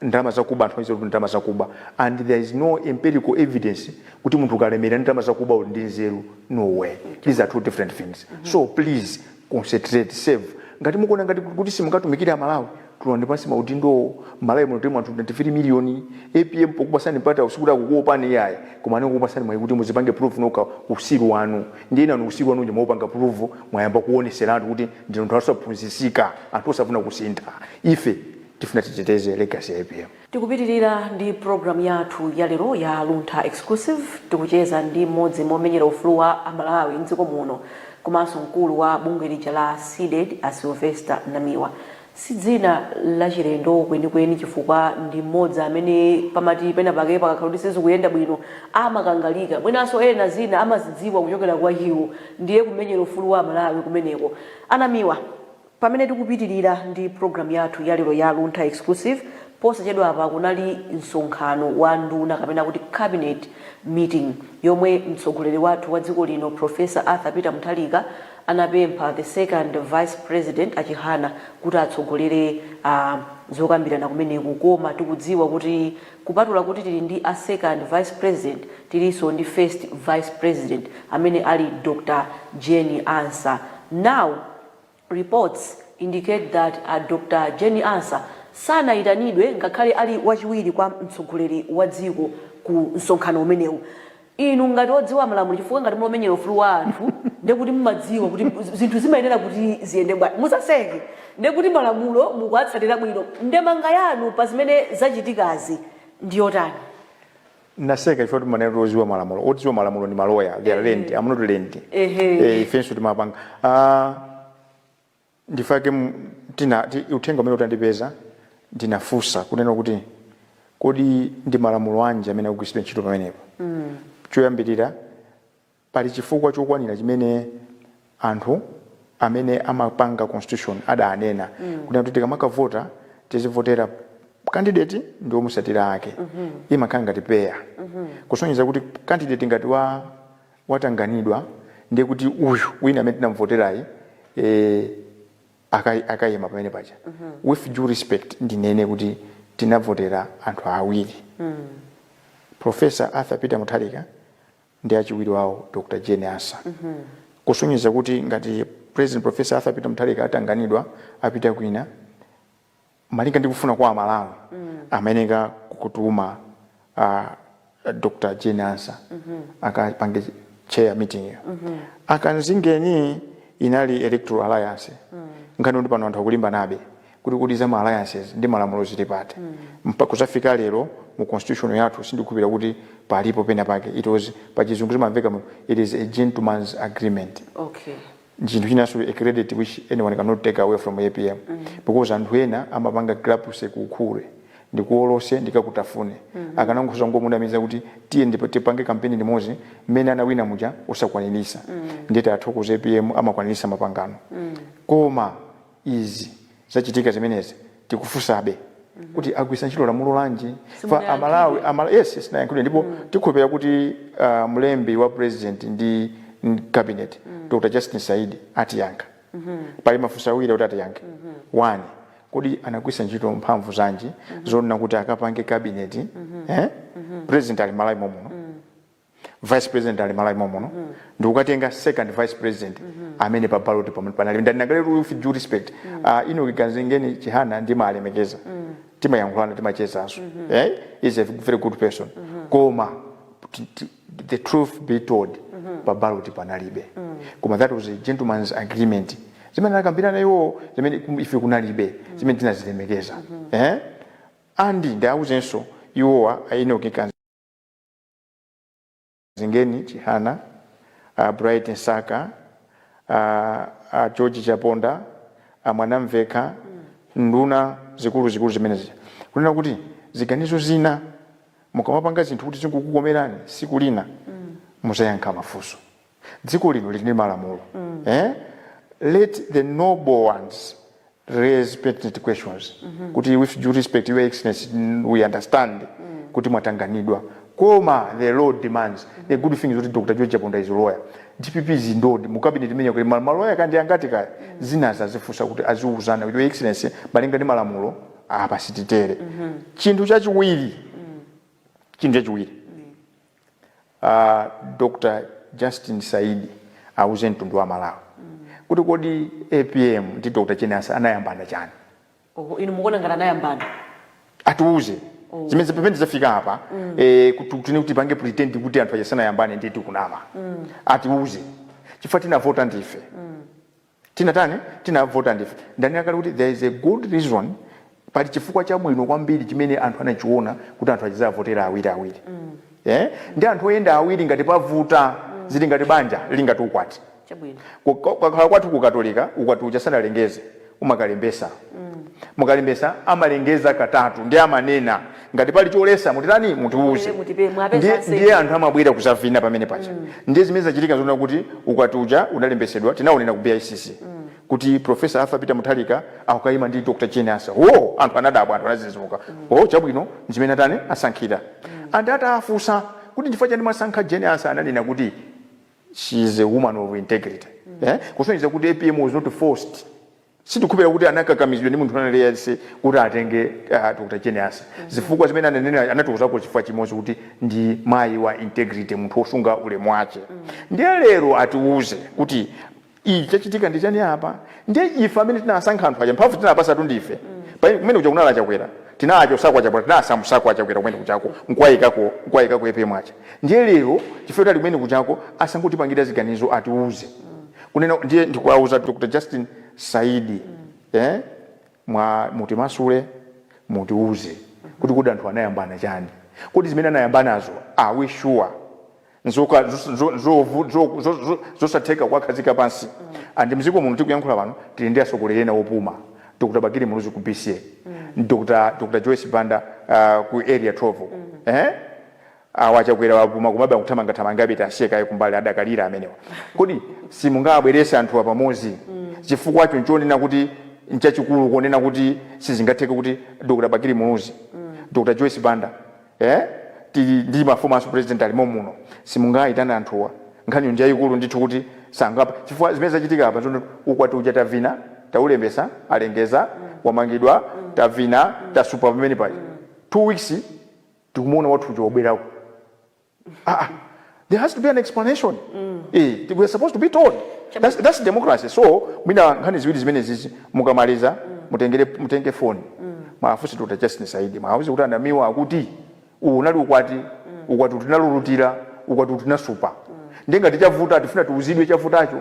ndalama zakuba anthu aziwa kuti ndalama zakuba and there is no empirical evidence kuti munthu ukalemera ndi ndalama zakuba uli ndi nzeru no way these are two different things so please concentrate serve ngati mukuona ngati kuti simungatumikire amalawi tulani pansi maudindowo malawi muno tilimo anthu 23 miliyoni apm pokupasani mpata sikuti akukuopani iyayi koma amene kukupasani mwayi kuti muzipange prove nokha usiru wanu ndiye inuyo usiru wanu uja mwaupanga prove mwayamba kuoneseratu kuti ndinu anthu osaphunzisika anthu osafuna kusintha ife Tifuna titeteze legacy ya apm. Tikupitilira ndi program yathu ya lero ya Luntha Exclusive, tikucheza ndi mmodzi mwa omenyera ufulu wa a Malawi mdziko muno komanso mkulu wa bungwe lija la Cdedi a Sylvester Namiwa. Si dzina lachilendo kwenikweni chifukwa ndi mmodzi amene pamati pena pake pakakhala kuti sizikuyenda bwino amakangalika, mwinanso ena zina amazidziwa kuchokera kwa iwo, ndiye kumenyera ufulu wa a Malawi kumeneko. A Namiwa, Pamene tikupitilira ndi program yathu ya lero ya Luntha Exclusive, posachedwapa kunali msonkhano wa nduna kapena kuti cabinet meeting yomwe mtsogoleri wathu wa dziko lino Prof. Arthur Peter Mutharika anapempha the second vice president a Chihana kuti atsogolere zokambirana kumeneku koma tikudziwa kuti kupatula kuti tili ndi a second vice president tilinso ndi first vice president amene ali Dr. Jane Ansah. Now. Reports indicate that Dr Jane Ansah sanayitanidwe ngakhale ali wachiwiri kwa mtsogoleri wa dziko ku msonkhano umenewu. Inu ngati odziwa malamulo chifukwa ngati muli omenyera ufulu wa anthu nde kuti mumadziwa kuti zinthu zimayenera kuti ziyende bwanji. Musaseke nde kuti malamulo mukuwatsatira bwino. Ndemanga yanu pa zimene zachitikazi ndi yotani? naseka chifukwa timanena kuti oziwa malamulo otiziwa malamulo ndi maloya they are learned i'm not learned Ehe. Eh, ifenso timapanga Ah, ndi chifukwa chake mu- tina ti- uthenga umene utandipeza ndinafunsa kunena kuti kodi ndi malamulo anji amene akugwiritsidwa ntchito pamenepo choyambirira Pali chifukwa chokwanira chimene anthu amene amapanga constitution adanena kunena kuti tikamakavota tizivotera candidate ndi omusatira ake. Imakhala ngati pair kusonyeza kuti candidate ngati wa watanganidwa ndiye kuti uyu wina amene tinamuvoterayi eh akai akaima pamene paja. With due respect ndinene kuti tinavotera anthu awiri. Professor Arthur Peter Mutharika ndi achiwiri wawo Dr Jane Ansah kusonyeza kuti ngati President Professor Arthur Peter Mutharika atanganidwa apita kwina malinga ndi kufuna kwa Amalawi amayeneka kutuma uh, Dr Jane Ansah akapange chair meeting yo a Kamzingeni inali Electoral Alliance nkhaniyo ndi pano anthu akulimbanabe kuti kodi za ma alliances ndi malamulo zili pati Mpaka kuzafika lero mu constitution yathu sindikukhulupirira kuti palipo pena pake it was pachizungu zimamveka mu it is a gentleman's agreement okay chinthu chinanso a credit which anyone cannot take away from apm because anthu ena amapanga grapuse kuukhure ndikuolose ndikakutafune akanangosoza ngomunamiza kuti tiye ndipo tipange kampeni limodzi mmene anawina muja osakwanirisa ndiye tiwathokoze apm amakwanirisa mapangano koma izi zachitika zimenezi tikufunsabe kuti agwitsa ntchito lamulo lanji fa Simunayankhidwe. amalawi amala- yes silinayankhidwe ndipo tikhulupirira kuti uh, mlembi wa president ndi ndi cabinet dr justin saidi atiyankha pali mafunso awiri kuti atiyankhe one kodi anagwiritsa ntchito mphamvu zanji zonena kuti akapange cabinet eh? president ali malawi mommuno vice president ali malawi mommuno mm. n'kukatenga second vice president mm -hmm. amene pa ballot panalibe ndanena kale with due respect mm. uh, ah, enock kanzingeni chihana ndimalemekeza mm. timayankhulana timachezanso mm -hmm. eh? is a very good person mm -hmm. koma the truth be told mm -hmm. pa ballot panalibe mm. koma that was a gentleman's agreement zimene anakambirana iwo zimene ife kunalibe mm. zimene tinazilemekeza mm -hmm. eh? and ndiwauzenso iwowa a enock kanzi Zingeni Chihana, a Bright Msaka, a, a George Chaponda, a Mwanamvekha, nduna zikuluzikulu zimenezija. Kunena kuti ziganizo zina mukamapanga zinthu kuti zikukukomerani siku lina muzayankha mafunso. dziko lino lili ndi malamulo eh? let the noble ones raise pertinent questions kuti with due respect your excellency mm, we understand kuti mwatanganidwa koma the law demands the good thing is kuti dr george chaponda is a lawyer dpp is endowed mu cabinet imene ija kuti ma- maloya kaya ndi angati kaya zinazi azifunsa kuti aziuzana kuti your excellency malinga ndi malamulo apa sititere chinthu chachiwiri chinthu chachiwiri A Dr Justin Saidi auze mtundu wa Malawi kuti kodi apm ndi Dr Jane Ansah anayambana chani? Oho, inu mukuona ngati anayambana? Atiuze zimene pamene zafika apa eh, kuti tipange pretend kuti anthu aja sanayambane ndiye tikunama. Atiuze chifukwa tinavota ndife. Tinatani? Tinavota ndife. Ndanena kale kuti there is a good reason, pali chifukwa chabwino kwambiri chimene anthu anachiona kuti anthu adzizavotera awiri awiri. Eh? Ndi anthu oyenda awiri ngati pa voti, zili ngati banja, lili ngati ukwati. Chabwino. Ku- ku- Kukakhala kwathu ku Katolika, ukwati uja asanalengeze, umakalembesa. Mukalembesa, amalengeza katatu, ndiye amanena. ngati pali choletsa mutitani mutiuze ndiye anthu amabwera kuzavina pamene paja mm. ndiye zimene zachitika zoona kuti ukwati uja unalembesedwa tinaonera ku bicc mm. kuti profesa arthur peter mutharika akukaima ndi dr jane ansah o anthu anadabwa anthu anadzidzimuka mm. o chabwino ndimene atani asankhila mm. and atafunsa kuti chifukwa chani mwasankha jane ansah ananena kuti she is a woman of integrity mm. eh? kusonyeza kuti apm was not forced Sitikukhulupirira kuti anakakamizidwa ndi munthu wina aliyense kuti atenge a Dr. Jane Ansah. Zifukwa zimene ananena anatiuzako chifukwa chimodzi kuti ndi mayi wa integrity, munthu wosunga ulemu wache. Ndiye lero atiuze kuti ichi chachitika ndi chani apa? Ndiye ife amene tinawasankha anthu aja mphamvu tinawapatsatu ndife. Pamene kumene kuja kunali a Chakwera, tinawachosako a Chakwera, tinawasamusako a Chakwera kumene kujako nkuwaikako nkuwaikako APM aja. Ndiye lero chifukwa choti ali kumene kujako asangotipangire ziganizo atiuze. Kunena ndiye ndikuwauza Dr Justin Saidi eh, mwa mutimasule mutiuze kuti kodi anthu anayambana chani, kodi zimene anayambanazo are we sure nzoka- zo- zo- zovu- zo- zo- zo- zosatheka kuwakhazika pansi and mziko muno tikuyankhula pano tili ndi atsogoleri ena opuma dr bakili muluzi ku bca dr dr joyce banda uh, ku area 12 eh? Awa a Chakwera wapuma komabe akuthamanga thamangabe tiasiye kaye kumbali adakalira amenewa kodi simungawabwerese anthuwa pamodzi chifukwacho nchonena kuti nchachikulu konena kuti sizingatheke kuti Dr Bakili Muluzi Dr Joyce Banda ee tili ndi ma former president alimo muno simungawaitane anthuwa nkhaniyo njaikulu ndithu kuti sangapa chifukwa zimene zachitika apa nzoona ukwati uja tavina taulembesa alengeza wamangidwa tavina tasupa pamene paja 2 weeks tikumuona wathu uja wabwerako aa there has to be an explanation eh we are supposed to be told that's, that's democracy so mwina nkhani ziwiri zimenezizi mukamaliza mutengere mutenge phone mwafunse dr justin saidi mwawuze kuti a Namiwa akuti uwu unali ukwati ukwatiwu tinalulutira ukwatiwu tinasupa ndiye ngati chavuta tifuna tiuzidwe chavutacho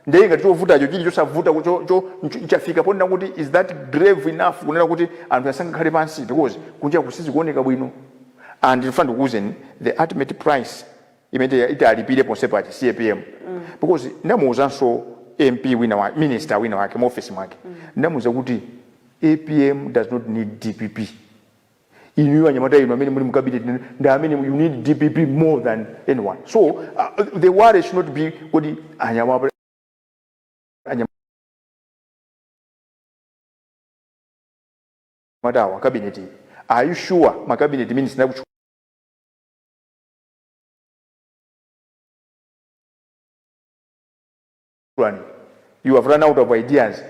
Ndiye ngati chovutacho chili chosavuta ku- cho, cho, nch- nchafika ponena kuti is that grave enough kunena kuti anthu asangakhale pansi because kunjaku sizikuoneka bwino and ndifuna ndikuuzeni the ultimate price imene ati alipire ponse paja si APM because ndamuuzanso MP wina wa minister wina wake mu office mwake ndamuuza kuti APM does not need DPP inuyo anyamata inu amene muli mu cabinet ndi amene you need dpp more than anyone so uh, the worry should not be kodi anyamata wa cabinet iyi are you sure ma cabinet minister kuchukira you have run out of ideas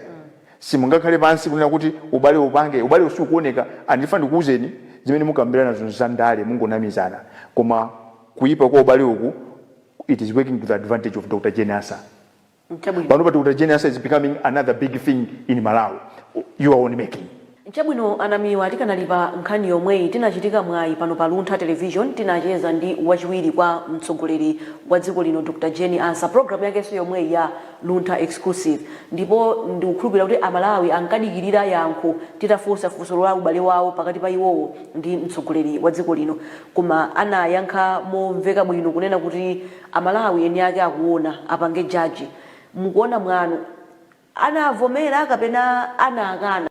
simungakhale pansi kunena kuti ubale upange ubalewu siukuoneka and ndifuna ndikuuzeni zimene mukambirana zinthu za ndale mungonamizana koma kuyipa kwa ubale uku it is working to the advantage of dr jane Ansah Chabwino. panopa dr jane Ansah is becoming another big thing in malawi you are on making Chabwino a Namiwa tikanali pa nkhani yomweyi tinachitika mwayi pano pa Luntha Television tinacheza ndi wachiwiri kwa mtsogoleri wa dziko lino Dr Jane Ansah program yake yomweyi ya Luntha Exclusive ndipo ndikukhulupilira kuti a Malawi ankadikilira yankho titafunsa funso la ubale wawo pakati pa iwowo ndi mtsogoleri wa dziko lino koma anayankha momveka bwino kunena kuti a Malawi eni ake akuona apange judge mukuona mwanu anavomera kapena anakana.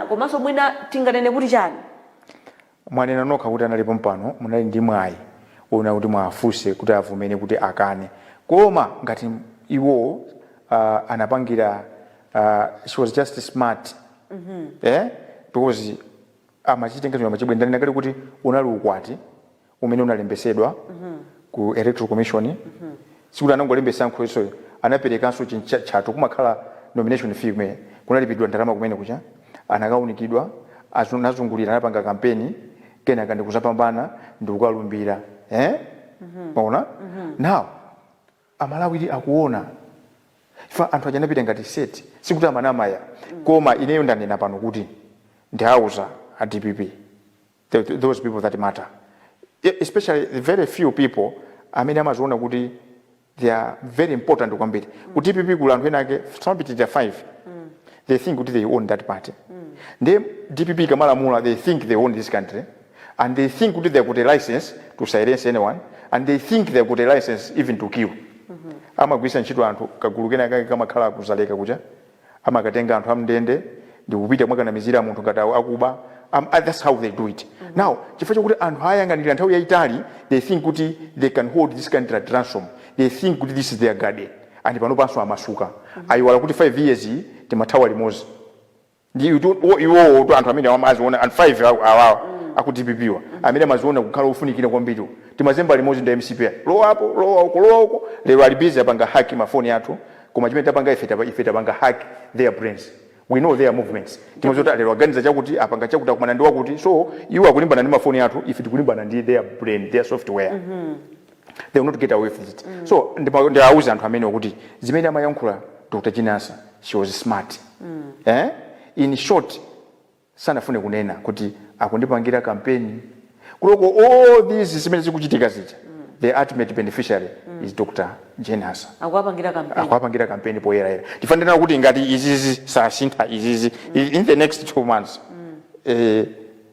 komanso mwina tinganene kuti chani? Mwanena nokha kuti anali pompano munali ndi mwayi onena kuti muwafunse kuti avomere kuti akane koma ngati iwowo uh, anapangira uh, she was just smart mm -hmm. eh? because amachitenga chuma chibwino ndanena kale kuti unali ukwati umene unalembesedwa ku electoral commission sikuti anangolembesa nkhosweyo anaperekanso chintchatchatho kumakhala nomination fee kumene kunalipidwa ndalama kumene kuja anakaunikidwa azu- nazungulira anapanga kampeni kenaka ndikuzapambana ndikukalumbira eh? maona now Amalawidi akuona chifukwa anthu aja anapita ngati set sikuti amanama ayi koma ineyo ndanena pano kuti ndiauza a dpp the, those people that matter e- especially the very few people amene amaziona kuti they are very important kwambiri ku dpp kuli anthu ena ake samapitirira 5 they think kuti they own that party ndiye dpp ikamalamula they think they own this country and they think kuti they got a licence to silence anyone and they think they got a licence even to kill amagwiritsa ntchito anthu kagulu kena kake kamakhala ku Dzaleka kuja amakatenga anthu am'ndende ndikupita kumakanamizira munthu ngati akuba Am- ah, that's how they do it now chifukwa chakuti anthu ayang'anira nthawi yayitali they think kuti they can hold this country at ransom they think kuti this is their garden and panopanso amasuka ayiwala kuti 5 years iyi timathawa limodzi ndi utu- wo- iwowo tu anthu amene amaziona and 5 aw- awawa aku dpp wa amene amaziona kukhala ofunikira kwambiri timazemba limodzi ndi mcp ya. lowa apo lowa uko lowa uko lero ali busy apanga hack mafoni athu koma chimene tapanga ife tapa- ife tapanga hack their brains we know their movements timaziwa lero aganiza chakuti apanga chakuti akumana ndi wakuti so iwo akulimbana ndi mafoni athu ife tikulimbana ndi their brain their software they will not get away with it mm. so ndiwauza anthu amenewo kuti zimene amayankhula dr jane ansah she was smart mm. eh? in short sanafune kunena kuti akundipangira kampeni kuloko all these zimene zikuchitika zija mm. the ultimate beneficiary mm. is dr jane ansah akuwapangira kampeni poyerayera tifanira kuti ngati izizi sasintha izizi mm. in the next two months mm. eh,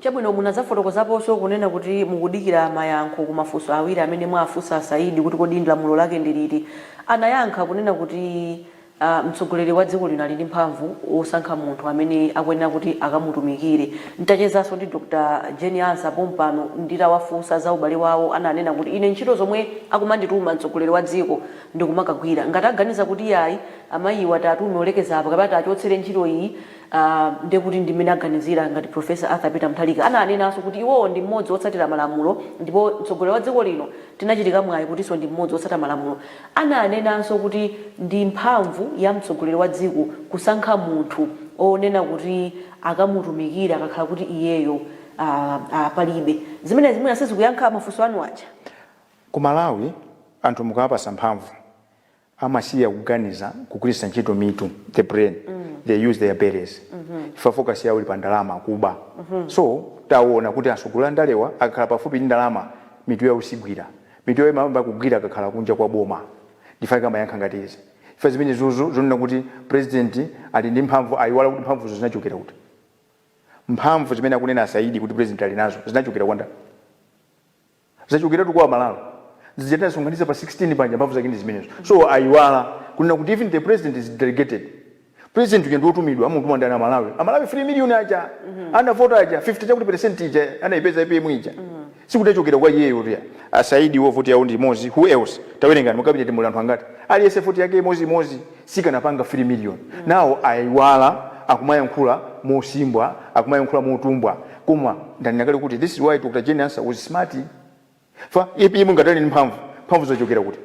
Chabwino, munadzafotokozaponso kunena kuti mukudikira mayankho ku mafunso awiri amene mwawafunsa a Saidi kuti kodi ndi lamulo lake ndi liti. Anayankha kunena kuti ah, mtsogoleri wa dziko lino ali ndi mphamvu yosankha munthu amene akuyenera kuti akamutumikire. Ntachezanso ndi Dr. Jane Ansah pompano nditawafunsa za ubale wawo ananena kuti ine ntchito zomwe akumandituma mtsogoleri wa dziko ndikumakagwira. Ngati aganiza kuti yayi, amayiwa tiwatume alekeze apa kapena tiwachotsere ntchito iyi, Aaa ndekuti ndi mmene aganizira ngati Prof Arthur Peter Mutharika ananenanso kuti iwowo ndi mmodzi wotsatira malamulo ndipo mtsogoleri wa dziko lino tinachitika mwayi kutinso ndi mmodzi wotsatira malamulo ananenanso kuti ndi mphamvu ya mtsogoleri wa dziko kusankha munthu wonena kuti akamutumikire akakhala kuti iyeyo aah aah palibe zimenezi mwina sizikuyankha mafunso anu aja? Ku Malawi anthu mukawapasa mphamvu amasiya kuganiza kugwiritsa ntchito mitu the brain they use their bellies chifukwa focus yawo ili pa ndalama kuba so taonani kuti atsogoleri a ndalewa akakhala pafupi ndi ndalama mitu yawo sigwira mitu yawo imayamba kugwira akakhala kunja kwa boma ndifake amayankha ngati izi chifukwa zimene zizi zonena kuti president ali ndi mphamvu aiwala kuti mphamvuzo zinachokera kuti mphamvu zimene akunena a Saidi kuti president ali nazo zinachokera kwa ndani Zinachokeratu kwa aMalawi zija tinasonkhanitsa pa 16 paja mphamvu zake ndi zimenezo so aiwala kunena kuti even the president is delegated. President uja ndi wotumidwa amamutuma ndani aMalawi? AMalawi 3 million aja anavota aja 50 chakuti percent ija anayipeza APM ija sikuti yachokera kwa iyeyotu ya. A Saidiwo voti yawo ndi imodzi who else? Tawerengani mu cabinet muli anthu angati? Aliyense voti yake imodzi imodzi sikanapanga 3 million now aiwala akumayankhula mosimbwa akumayankhula motumbwa koma ndanena kale kuti this is why Dr Jane Ansah was smart chifukwa APM ngati ali ndi mphamvu mphamvu zachokera kuti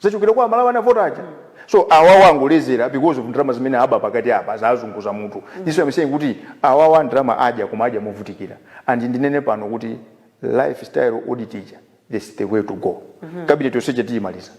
zachokera kwa aMalawi anavota aja so awawa angolezera because of ndalama zimene aba pakati apa zawazunguza mutu this I'm saying kuti awawa ndalama adya koma adya movutikira and ndinene pano kuti lifestyle audit ija That's the way to go cabinet yonse ija tiyimaliza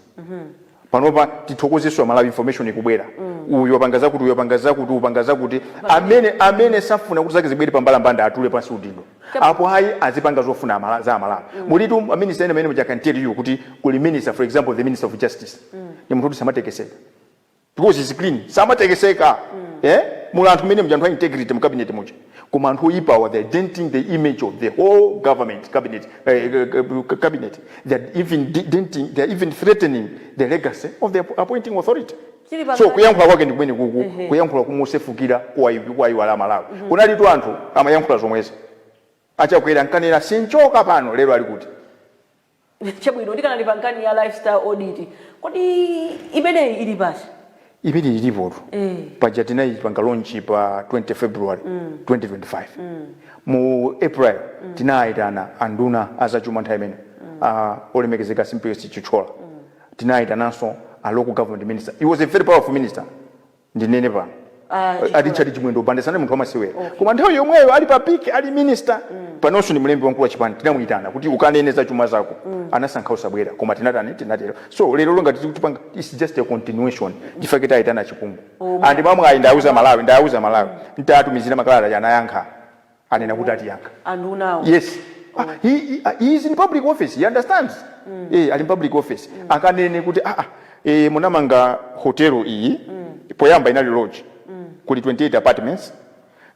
panopa tithokozenso aMalawi information ikubwera uyu wapanga zakuti uyu wapanga zakuti uyu wapanga zakuti amene amene safuna kuti zake zibwere pambalambanda atule pansi udindo apo ayi azipanga zofuna amala, za aMalawi mulitu aminista ena mmenemuja can tell you kuti kuli minister for example the minister of justice ndi munthu woti samatekeseka because he's clean samatekeseka mm. eh? muli anthu mmenemuja anthu a integrity mu cabinet muja koma anthu oyipawa they are denting the image of the whole government cabinet uh, uh, cabinet they are even denting they are even threatening the legacy of the appointing authority so kuyankhula kwake ndikumene kuku mm -hmm. kuyankhula komasefukira kuwaiwala aMalawi mm -hmm. kunalitu anthu amayankhula zomwezi a Chakwera ankanena sinchoka pano lero ali kuti chabwino tikanali pa nkhani ya lifestyle audit kodi imeneyi ili pati imene ilipotu Eh. paja tinayipanga launch pa 20 february 2025 mu april tinayitana anduna azachuma nthawi imeneyo olemekezeka Simplex Chithyola tinayitananso a local government minister he was a very powerful minister ndinene pano Ah, chifukwa- a Richard Chimwendo Banda sanali munthu wamasewera Okay. koma nthawi yomweyo ali pa peak ali minister panonso ndi mlembi wamkulu wa chipani tinamuyitana kuti ukanene za chuma zako anasankha kusabwera koma tinatani tinatero so lero lomba tizikutipanga its just a continuation ndichifukwa chake tayitana a Chipungu Oh, ndipo mwamwayi ndauza malawi ndauza malawi titatumizira makalata anayankha anena kuti atiyankha andunawo yes ah, he, he, ah, he is in public office he understands mm. eh, ali in public office mm. akanene kuti ah, ah, eh, munamanga hotelo iyi mm. poyamba inali lodge mm. kuli 28 apartments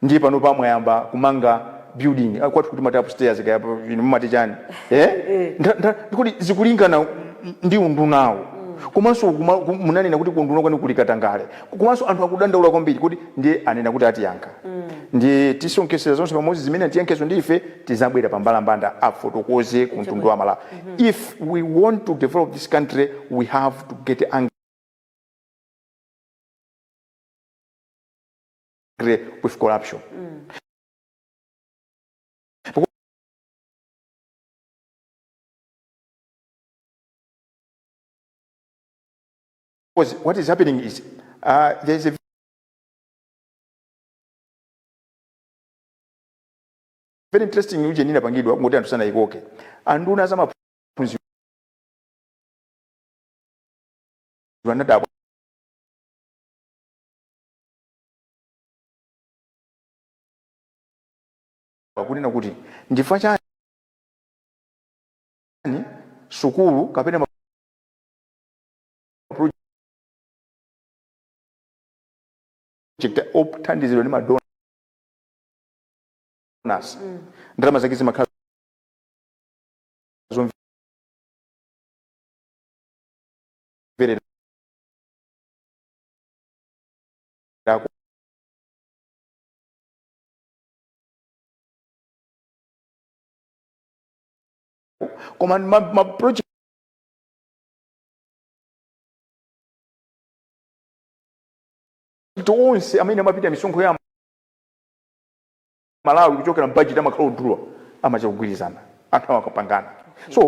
ndiye panopa mwayamba kumanga building ah, kwathu timati upstairs kaya inu mumati chani eh? eh. Nda- nda- kuti zikulingana ndi undunawo komanso kuma- ku- munanena kuti kuunduna kwanu kuli katangale komanso anthu akudandaula kwambiri kuti ndiye anena kuti atiyankha ndiye tisonkhetsera zonse pamodzi zimene atiyankhezo ndi ife tizabwera pa mbalambanda afotokoze ku mtundu wa Amalawi if we want to develop this country we have to get angry with corruption Because what is happening is uh, there is a very interesting ujeni inapangidwa ngati anthu sanayikoke anduna za maphunziro anadabwa kunena kuti ndifa chani sukulu kapena othandizidwa ndi madonors mm. ndalama zake zimakhala zomverera koma ma, ma project awo onse amene amapita misonkho ya Amalawi kuchokera mu budget amakhala odula amachita kugwirizana anthu amakapangana so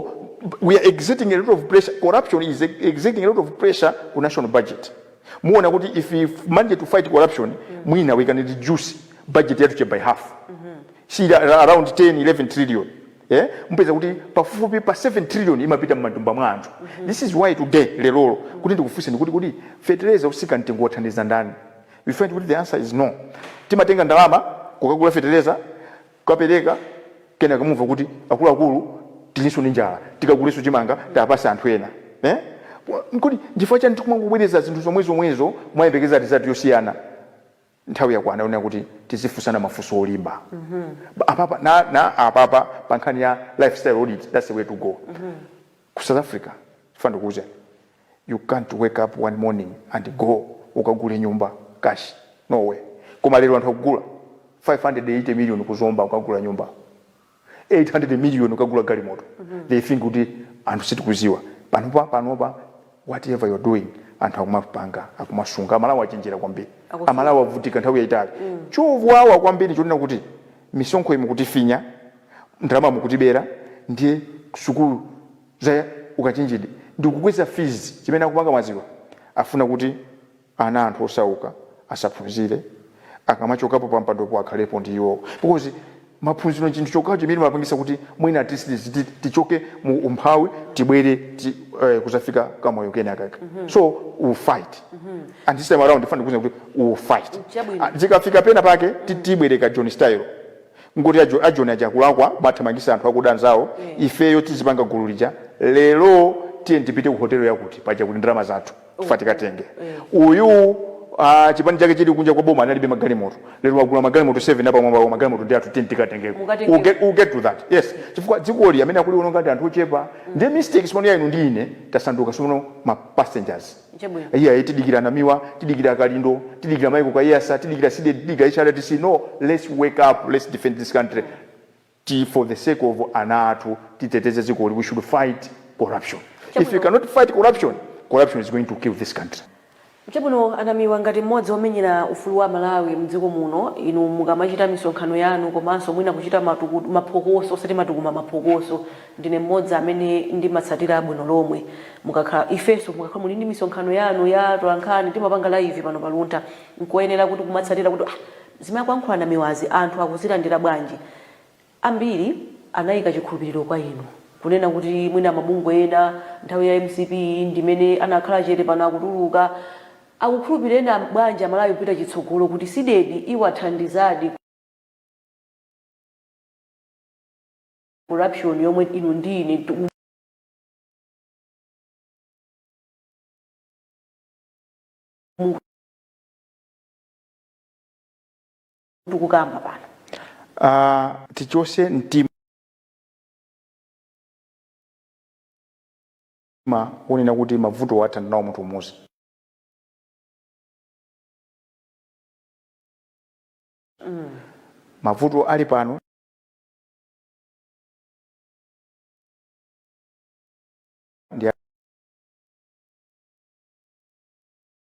we are exerting a lot of pressure corruption is exerting a lot of pressure ku national budget muona kuti if we manage to fight corruption mwina we can reduce budget yathu ija by half si ili around 10 11 trillion Eh, mupeza kuti pafupifupi pa 7 trillion imapita m'matumba mwa anthu. This is why today, lerolo, kuti ndikufunseni kuti kodi fetereza osika mtengo wathandiza ndani? You find kuti the answer is no. Timatenga ndalama kukagula fetereza, kukapereka, kenaka mumva kuti akuluakulu tilinso ndi njala, tikagulenso chimanga tiwapatse anthu ena. Eh? Kodi nchifukwa chani tikumangobwereza zinthu zomwezomwezo kumayembekeza result yosiyana? nthawi yakwana yonena kuti tizifunsana mafunso olimba apapa na, na apapa pa nkhani ya lifestyle audit that's the way to go ku south africa funa ndikuuze you can't wake up one morning and go ukagule nyumba cash no way koma lero anthu akugula 580 million ku zomba ukagula nyumba 800 million ukagula galimoto mm -hmm. they think kuti anthu sitikuziwa panopa panopa whatever you're doing anthu akumapanga akumasunga amalawi achenjera kwambiri amalawi avutika nthawi yaitali mm. chowawa kwambiri chonena kuti misonkho iyi mukutifinya ndalama mukutibera ndiye sukulu za ukachenjede ndikukweza fees chimene akupanga maziwa afuna kuti ana a anthu osauka asaphunzire akamachokapo pampandopo akhalepo ndi iwowo because maphunziro nchinthu chokhacho chimene chimapangisa kuti mwina at least tiz- ti- tichoke mu umphawi tibwere ti, eh, kuzafika kamoyo kenakake so we will fight and this time around funa kukuuza kuti we will fight Chabwino. Ah, zikafika pena pake ti- tibwereka joni style ngoti ajo- ajoni aja akulakwa amathamangisa anthu akuda anzawo ifeyo tizipanga gulu lija lero tiye tipite ku hotelo yakuti paja kuti ndalama zathu funa tikatenge uyu ah, chipani chake chili kunja kwa boma analibe magalimoto lero wagula magalimoto 7 apamwamba magalimoto ndi athu tiye tikatengeko Mukatengeko. We'll get- we'll get to that yes chifukwa dzikoli amene akuliwononga ndi anthu ochepa ndi mistake tsono ya inu ndi ine tasanduka tsono ma passengers Chabwino. iye tidikira namiwa tidikira kalindo tidikira michael kaiyatsa tidikira cdedi tidikira hrdc no let's wake up let's defend this country ti for the sake of ana athu titeteze dzikoli we should fight corruption if we cannot fight corruption corruption is going to kill this country. Chabwino a Namiwa ngati mmodzi womenyera ufulu wa Amalawi mdziko muno inu mukamachita misonkhano yanu komanso mwina kuchita matukutu, maphokoso osati matukuma maphokoso ndine mmodzi amene ndimatsatira bwino lomwe mukakhala ifenso mukakhala muli ndi misonkhano yanu ya atolankhani timapanga live pano pa Luntha nkoyenera kuti kumatsatira kuti ah Zimene akuyankhula Namiwazi anthu akuzilandira bwanji? Ambiri anayika chikhulupiliro kwa inu. Kunena kuti mwina mabungwe ena nthawi ya mcp ndimene anakhala chete pano akutuluka. Akukhulupilireni bwanji amalawi kupita chitsogolo kuti Cdedi iwathandizadi ku corruption yomwe inu ndi ine tiku. tikukamba pano uh, tichose mtima onena kuti mavuto athana nawo munthu umodzi mm. mavuto ali pano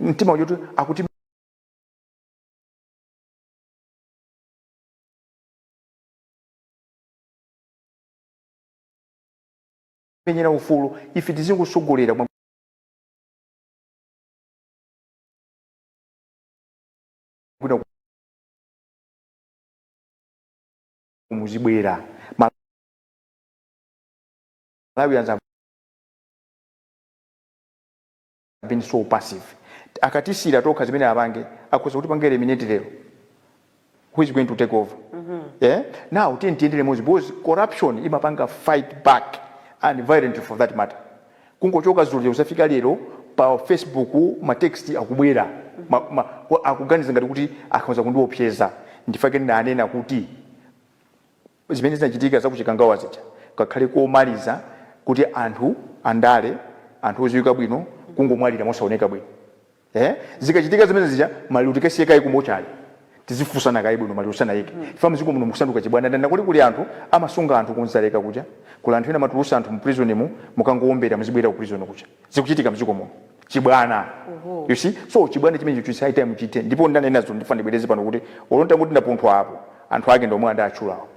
mtima woti akutimenyera ufulu ife tizingosogolera mwa bwino muzibwera amalawi anza been so passive akatisiyira tokha zimene apange akhoza kutipanga eliminate lero who is going to take over yeah? now tiyeni tiyende limodzi because corruption imapanga fight back and violent for that matter kungochoka zulo kuzafika lero pa facebook matext akubwera ma, ma, wa- akuganiza ngati kuti akhoza kundiopseza ndichifukwa chake nanena kuti Zimene zinachitika za ku Chikangawa zija zikhale komaliza kuti anthu andale, anthu oziwika bwino kungomwalira mosaoneka bwino ee zikachitika zimene zija maliro tikasiye kaye ku mochale tizifunsana kaye bwino maliro tisanaike chifukwa mziko muno mukusanduka chibwana nanga kodi kuli anthu amasunga anthu ku Dzaleka kuja kuli anthu ena amatulusa anthu mu prison mu mukangowombera muzibwelera ku prison kuja zikuchitika mdziko muno chibwana Oho. you see so chibwana chimene chikuchitika chithe ndipo ndanenazo ndifuna ndibwereze pano kuti olo nditati ndapunthwa apo anthu ake ndomwe andatchulawo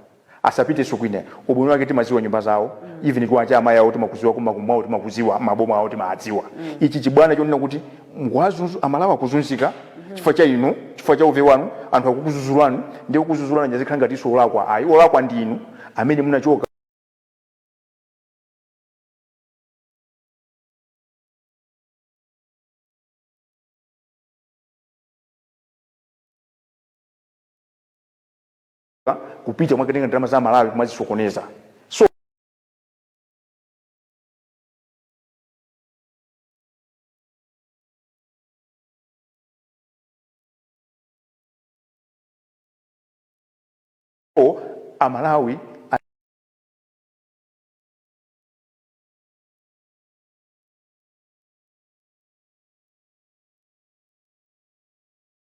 asapitenso kwina ubwino wake timaziwa nyumba zawo even kwawo kwa amayi awo timakuziwa kumakwawo timakuziwa maboma awo timadziwa ichi chibwana chonena kuti mukuwazunza amalawi akuzunzika chifukwa cha inu chifukwa cha uve wanu anthu akukuzuzulani ndi kukuzuzulani muzikhala ngatinso olakwa ayi olakwa ndi inu amene munachoka kupita mwakatenga ndalama za malawi kumazisokoneza so amalawi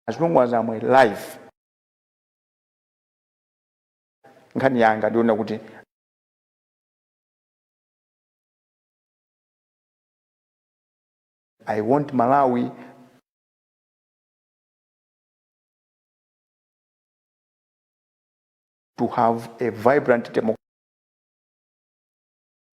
as long as I'm alive nkhani yanga ndiona kuti i want malawi to have a vibrant democracy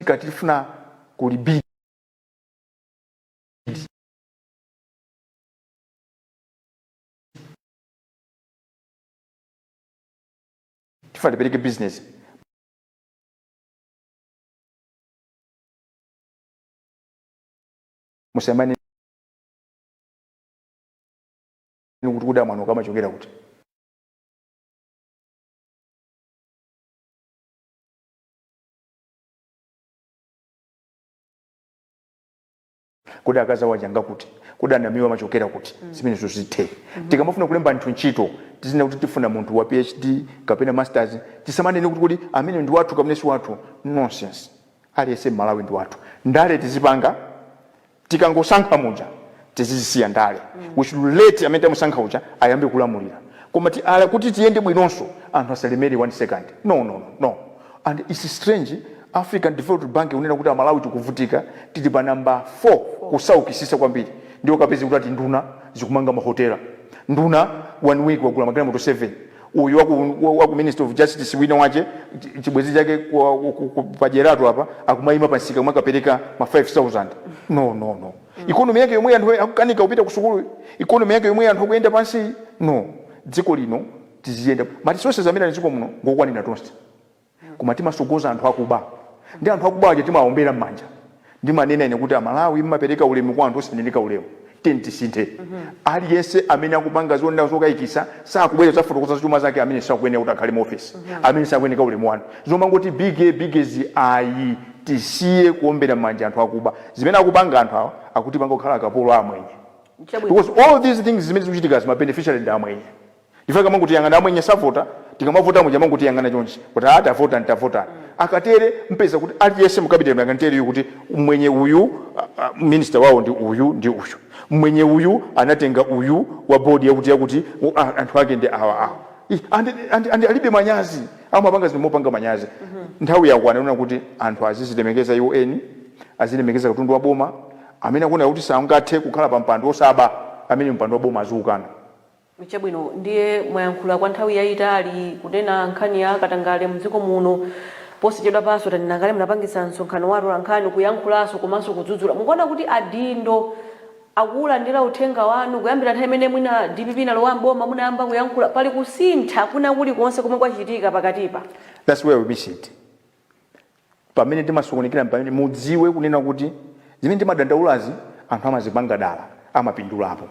kulimbika tikufuna ku rebuild tifuna tipereke business musamanene kuti kodi mwana uyu amachokera kuti kodi akazi awo aja nanga kuti kodi anawa amachokera kuti zimenezozo zithe tikamafuna kulemba anthu ntchito tizinena kuti tifuna munthu wa phd kapena masters tisamanene kuti kodi amene ndi wathu kapena si wathu nonsense aliyense mmalawi ndi wathu ndale tizipanga tikangosankha muja tizizisiya ndale we should let amene tamusankha uja ayambe kulamulira koma ti, ala, kuti tiyende bwinonso anthu asalemere one second no no no no and its strange african development bank kunena kuti amalawi tikuvutika tili pa number 4 kusaukisisa kwambiri ndiye ukapeza kuti ati nduna zikumanga mahotela nduna one week wagula magalimoto 7 uyu waku, waku minister of justice wina wache chi- chibwezi chake kwa- ku- ku- ku- pajeratu apa akumayima pa msika kumakapereka ma 5000 no no no economy yake yomwe anthu akukanika kupita ku sukulu economy yake yomwe anthu akuyenda pansi no dziko lino tiziyenda ma resources amene ali dziko muno ngokwanira tonse koma timasogoza anthu akuba ndi anthu akuba aja timawaombera mmanja ndimanena ine kuti amalawi mmapereka ulemu kwa anthu osayeneka ulemu tiyeni tisinthe aliyense amene akupanga zinthu zokayikisa sakubwera kuzafotokoza za chuma zake amene sakuyenera kuti akhale mu ofesi amene sakuyeneka ulemu wanu zomangoti biggie biggie zi ayi tisiye kuombera mmanja anthu akuba zimene akupanga anthu awa akutipanga kukhala akapolo a amwenye Chabwino. because all these things zimene zikuchitika ma beneficiary ndi amwenye Chifukwa akamangotiyang'ana amwenye savota, tikamavota muja amangotiyang'ana chonchi kuti aa atavota atavota. Akatere mupeza kuti aliyense mu cabinet I can tell you kuti mmwenye uyu minister wawo ndi uyu ndi uyu. Mmwenye uyu anatenga uyu wa board yakuti yakuti anthu ake ndi awa awa. Ih and and and alibe manyazi amapanga zinthu mopanda manyazi. Nthawi yakwana yonena kuti anthu azizilemekeza iwo eni, azilemekeza katundu wa boma, amene akuona kuti sangathe kukhala pa mpando osaba ameneyo mpando wa boma aziukana. Chabwino ndiye mwayankhula kwa nthawi yayitali kunena nkhani ya katangale mdziko muno, posachedwapanso tanena kale munapangitsa msonkhano wa atolankhani kuyankhulanso komanso kudzudzula, mukuona kuti adindo akuwulandira uthenga wanu kuyambira nthawi imene mwina dpp inalowa m'boma munayamba kuyankhula, pali kusintha kwina kulikonse komwe kwachitika pakatipa? Thats where we miss it. Pamene timasokonekera pamene mudziwe kunena kuti zimene timadandaulazi anthu amazipanga dala amapindulapo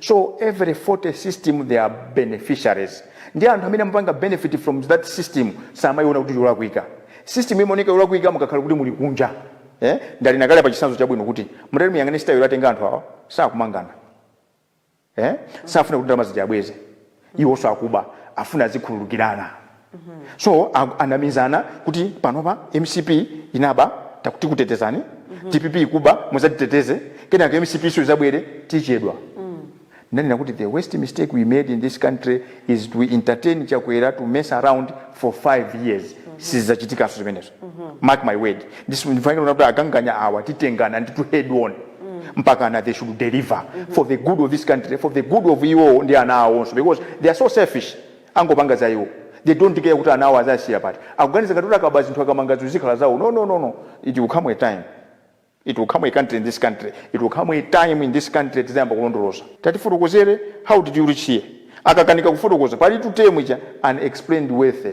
so every faulty system there are beneficiaries ndi anthu amene amapanga benefit from that system samayiona kuti yolakwika system imaoneka yolakwika mukakhala kuti muli kunja eh? ndanena kale apa chitsanzo chabwino kuti mutati muyang'ane style yotenga anthu awa sakumangana eh? safuna kuti ndalama zija abweze iwonso akuba afuna azikhululukirana so a- anamizana kuti panopa mcp inaba taku- tikutetezani dpp ikuba muzatiteteze kenaka mcp iso izabwerere tichedwa ndanena kuti the worst mistake we made in this country is to entertain chakwera to mess around for five years sizachitikanso zimenezo mark my word Ndisu- ndifanike kuona kuti akanganya awa titengana nditu head on mpakana they should deliver for the good of this country for the good of iwo ndi ana awonso because they are so selfish angopanga za iwo they don't care kuti ana awo azasiya pati akuganiza ngati kuti akaba zinthu akamanga zinthu zikhala zawo no no no no it will come a time it will come a country in this country it will come a time in this country tizayamba kulondoloza tatifotokozereni how did you reach here akakanika kufotokoza pali term ija unexplained wealth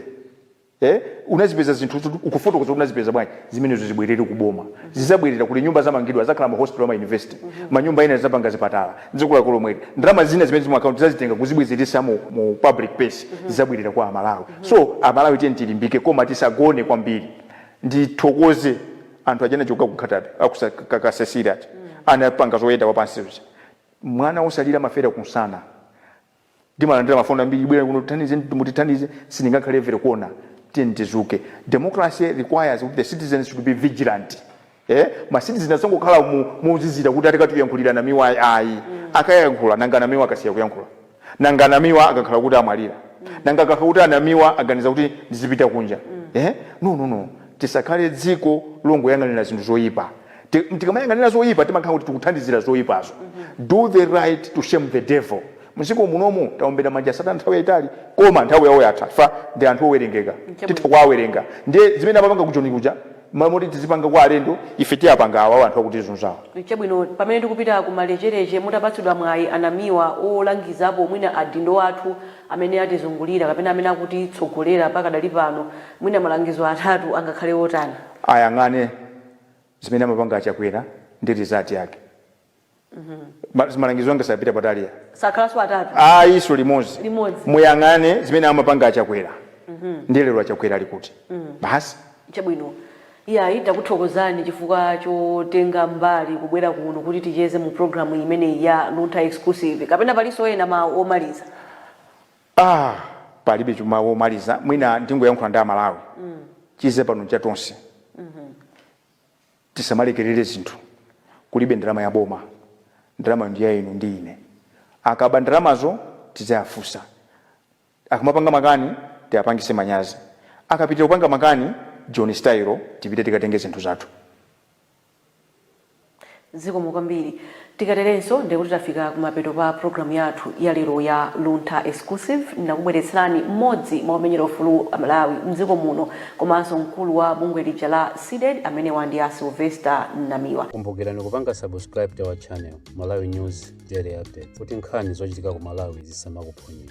Eh? Unazipeza zinthu zoti ukufotokoza kuti unazipeza bwanji? Zimenezo zibwerere ku boma. Zizabwerera kuti nyumba zamangidwa, azakhala ma hospital ama university. Manyumba ena zizapanga zipatala. Dziko lake lomweli. Ndalama zina zimene zili mu account tizazitenga kuzibwezeretsa mu, mu public purse. Zizabwerera kwa Amalawi. So, Amalawi tiyeni tilimbike koma tisagone kwambiri. Ndithokoze anthu aja anachoka ku Nkhata Bay, aku sa- ka- ka Cecilia aja. Anapanga zoyenda wapansi uja. Mwana wosalira anafera kunsana. Ndimalandira mafoni ambiri, bwerani kuno tithandize, mutithandize, sindingakhale every corner. Tiyeni tizuke. Democracy requires kuti the citizens should be vigilant. Eh? Ma citizen asangokhala mu mozizira kuti atikatiyankhulira Namiwa ayi. ayi. Akayankhula nanga Namiwa akasiya kuyankhula. Nanga Namiwa akakhala kuti amwalira. Nanga akakhala kuti a Namiwa aganiza kuti ndizipita kunja. Eh? No no no. Tisakhale dziko longoyang'anira zinthu zoipa. Ti- tikamayang'anira zoyipa timakhala kuti tikuthandizira zoyipazo do the right to shame the devil mdziko munomu taombera m' manja satana nthawi yayitali koma nthawi yawo yatha chifukwa ndi anthu owerengeka titha kuwawerenga ndiye zimene amapanga kujoni kuja mmalo moti tizipanga kwa alendo ife tiwapange awawo anthu akutizunzawo chabwino pamene tikupita ku malechereche mutapatsidwa mwayi a Namiwa olangizapo mwina adindo athu amene atizungulira kapena amene akutitsogolera pakadali pano mwina malangizo atatu angakhale otani ayang'ane zimene amapanga achakwera ndi result yake Ma- malangizo anga sapita patali iyayi sakhalanso atatu ayi so limodzi Limodzi. muyang'ane zimene amapanga achakwera ndi lero achakwera ali kuti basi chabwino iyayi takuthokozani chifukwa chotenga mbali kubwera kuno kuti ticheze mu programu imeneyi ya luntha exclusive kapena palinso ena mawu omaliza Aaa palibecho mawu omaliza mwina ndingoyankhula ndi amalawi chidze pano nchatonse tisamalekelele zinthu kulibe ndalama yaboma ndalama ya inu ndi ine akaba ndalamazo tiziwafunsa akamapanga makani tiwapangitse manyazi akapitila kupanga makani joni style tipite tikatenge zinthu zathu. Zikomo kwambiri. Tikaterenso ndiye kuti tafika kumapeto pa pulogalamu yathu ya lero ya Luntha Exclusive. Ndakubweretserani mmodzi mwa omenyera ufulu a Malawi m'dziko muno komanso mkulu wa bungwe lija la CDEDI, amenewa ndi a Sylvester Namiwa. Kumbukirani kupanga subscribe to our channel Malawi News Daily Update kuti nkhani zochitika ku Malawi zisamakuphonyeni.